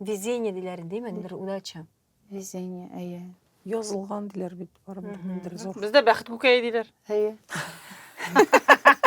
Везение диләр инде, именно бер удача. Везение, әйе. Язылган диләр бит барыбер ниндер зур. Бездә бәхет күкәе диләр. Әйе.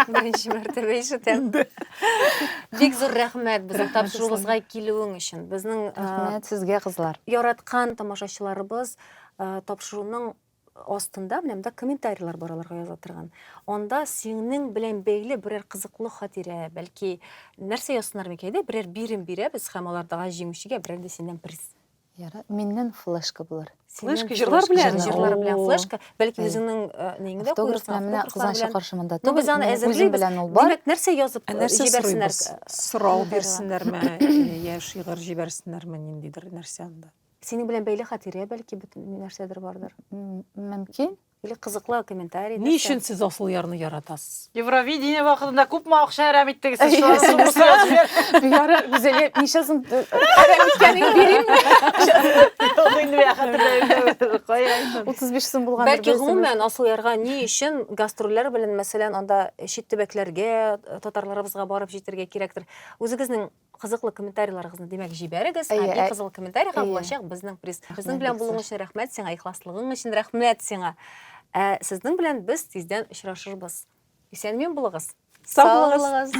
Беренче мәртәбә ишетәм. Бик зур рәхмәт безнең тапшыруыбызга килүең өчен. Безнең Рәхмәт сезгә, кызлар. Яраткан тамашачыларыбыз тапшыруның астында менә монда комментарийлар бар аларга яза торган. Анда синең белән бәйле берәр кызыклы хатирә, бәлки нәрсә язсыннар микән иде? Берәр бирем бирәбез һәм алардагы җиңүчегә берәр дә синнән приз. Яра, миннән флешка булыр. Флешка җырлар белән, җырлар белән флешка, бәлки үзеңнең неңне дә куерсың. Автограф менә кызганчы каршымында. Ну без аны әзерлибез. Димәк, нәрсә язып җибәрсеннәр? Сорау бирсеннәрме, яшь шигырь җибәрсеннәрме, ниндидер нәрсә анда? Синең белән бәйле хатирә бәлки бөтен нәрсәдер бардыр. Мөмкин. Или кызыклы комментарий. Ни өчен сез асыл ярны яратасыз? Евровидение вакытында күпме акча әрәм иттегез сез шулар өчен? Яра, Гүзәлия, ничә сум әрәм иткәнен бирәмме? Ул инде миңа хәтерләмәде. Кая? 35 сум булган. Бәлки гомумән асыл ярга ни өчен гастрольләр белән мәсәлән анда чит төбәкләргә татарларыбызга барып җитәргә кирәктер. Үзегезнең кызыклы комментарийларыгызны димәк җибәрегез һәм иң кызыл комментарийга булачак безнең приз безнең белән булуың өчен рәхмәт сиңа ихласлыгың өчен рәхмәт сиңа ә сезнең белән без тиздән очрашырбыз исәнмен булыгыз сау булыгыз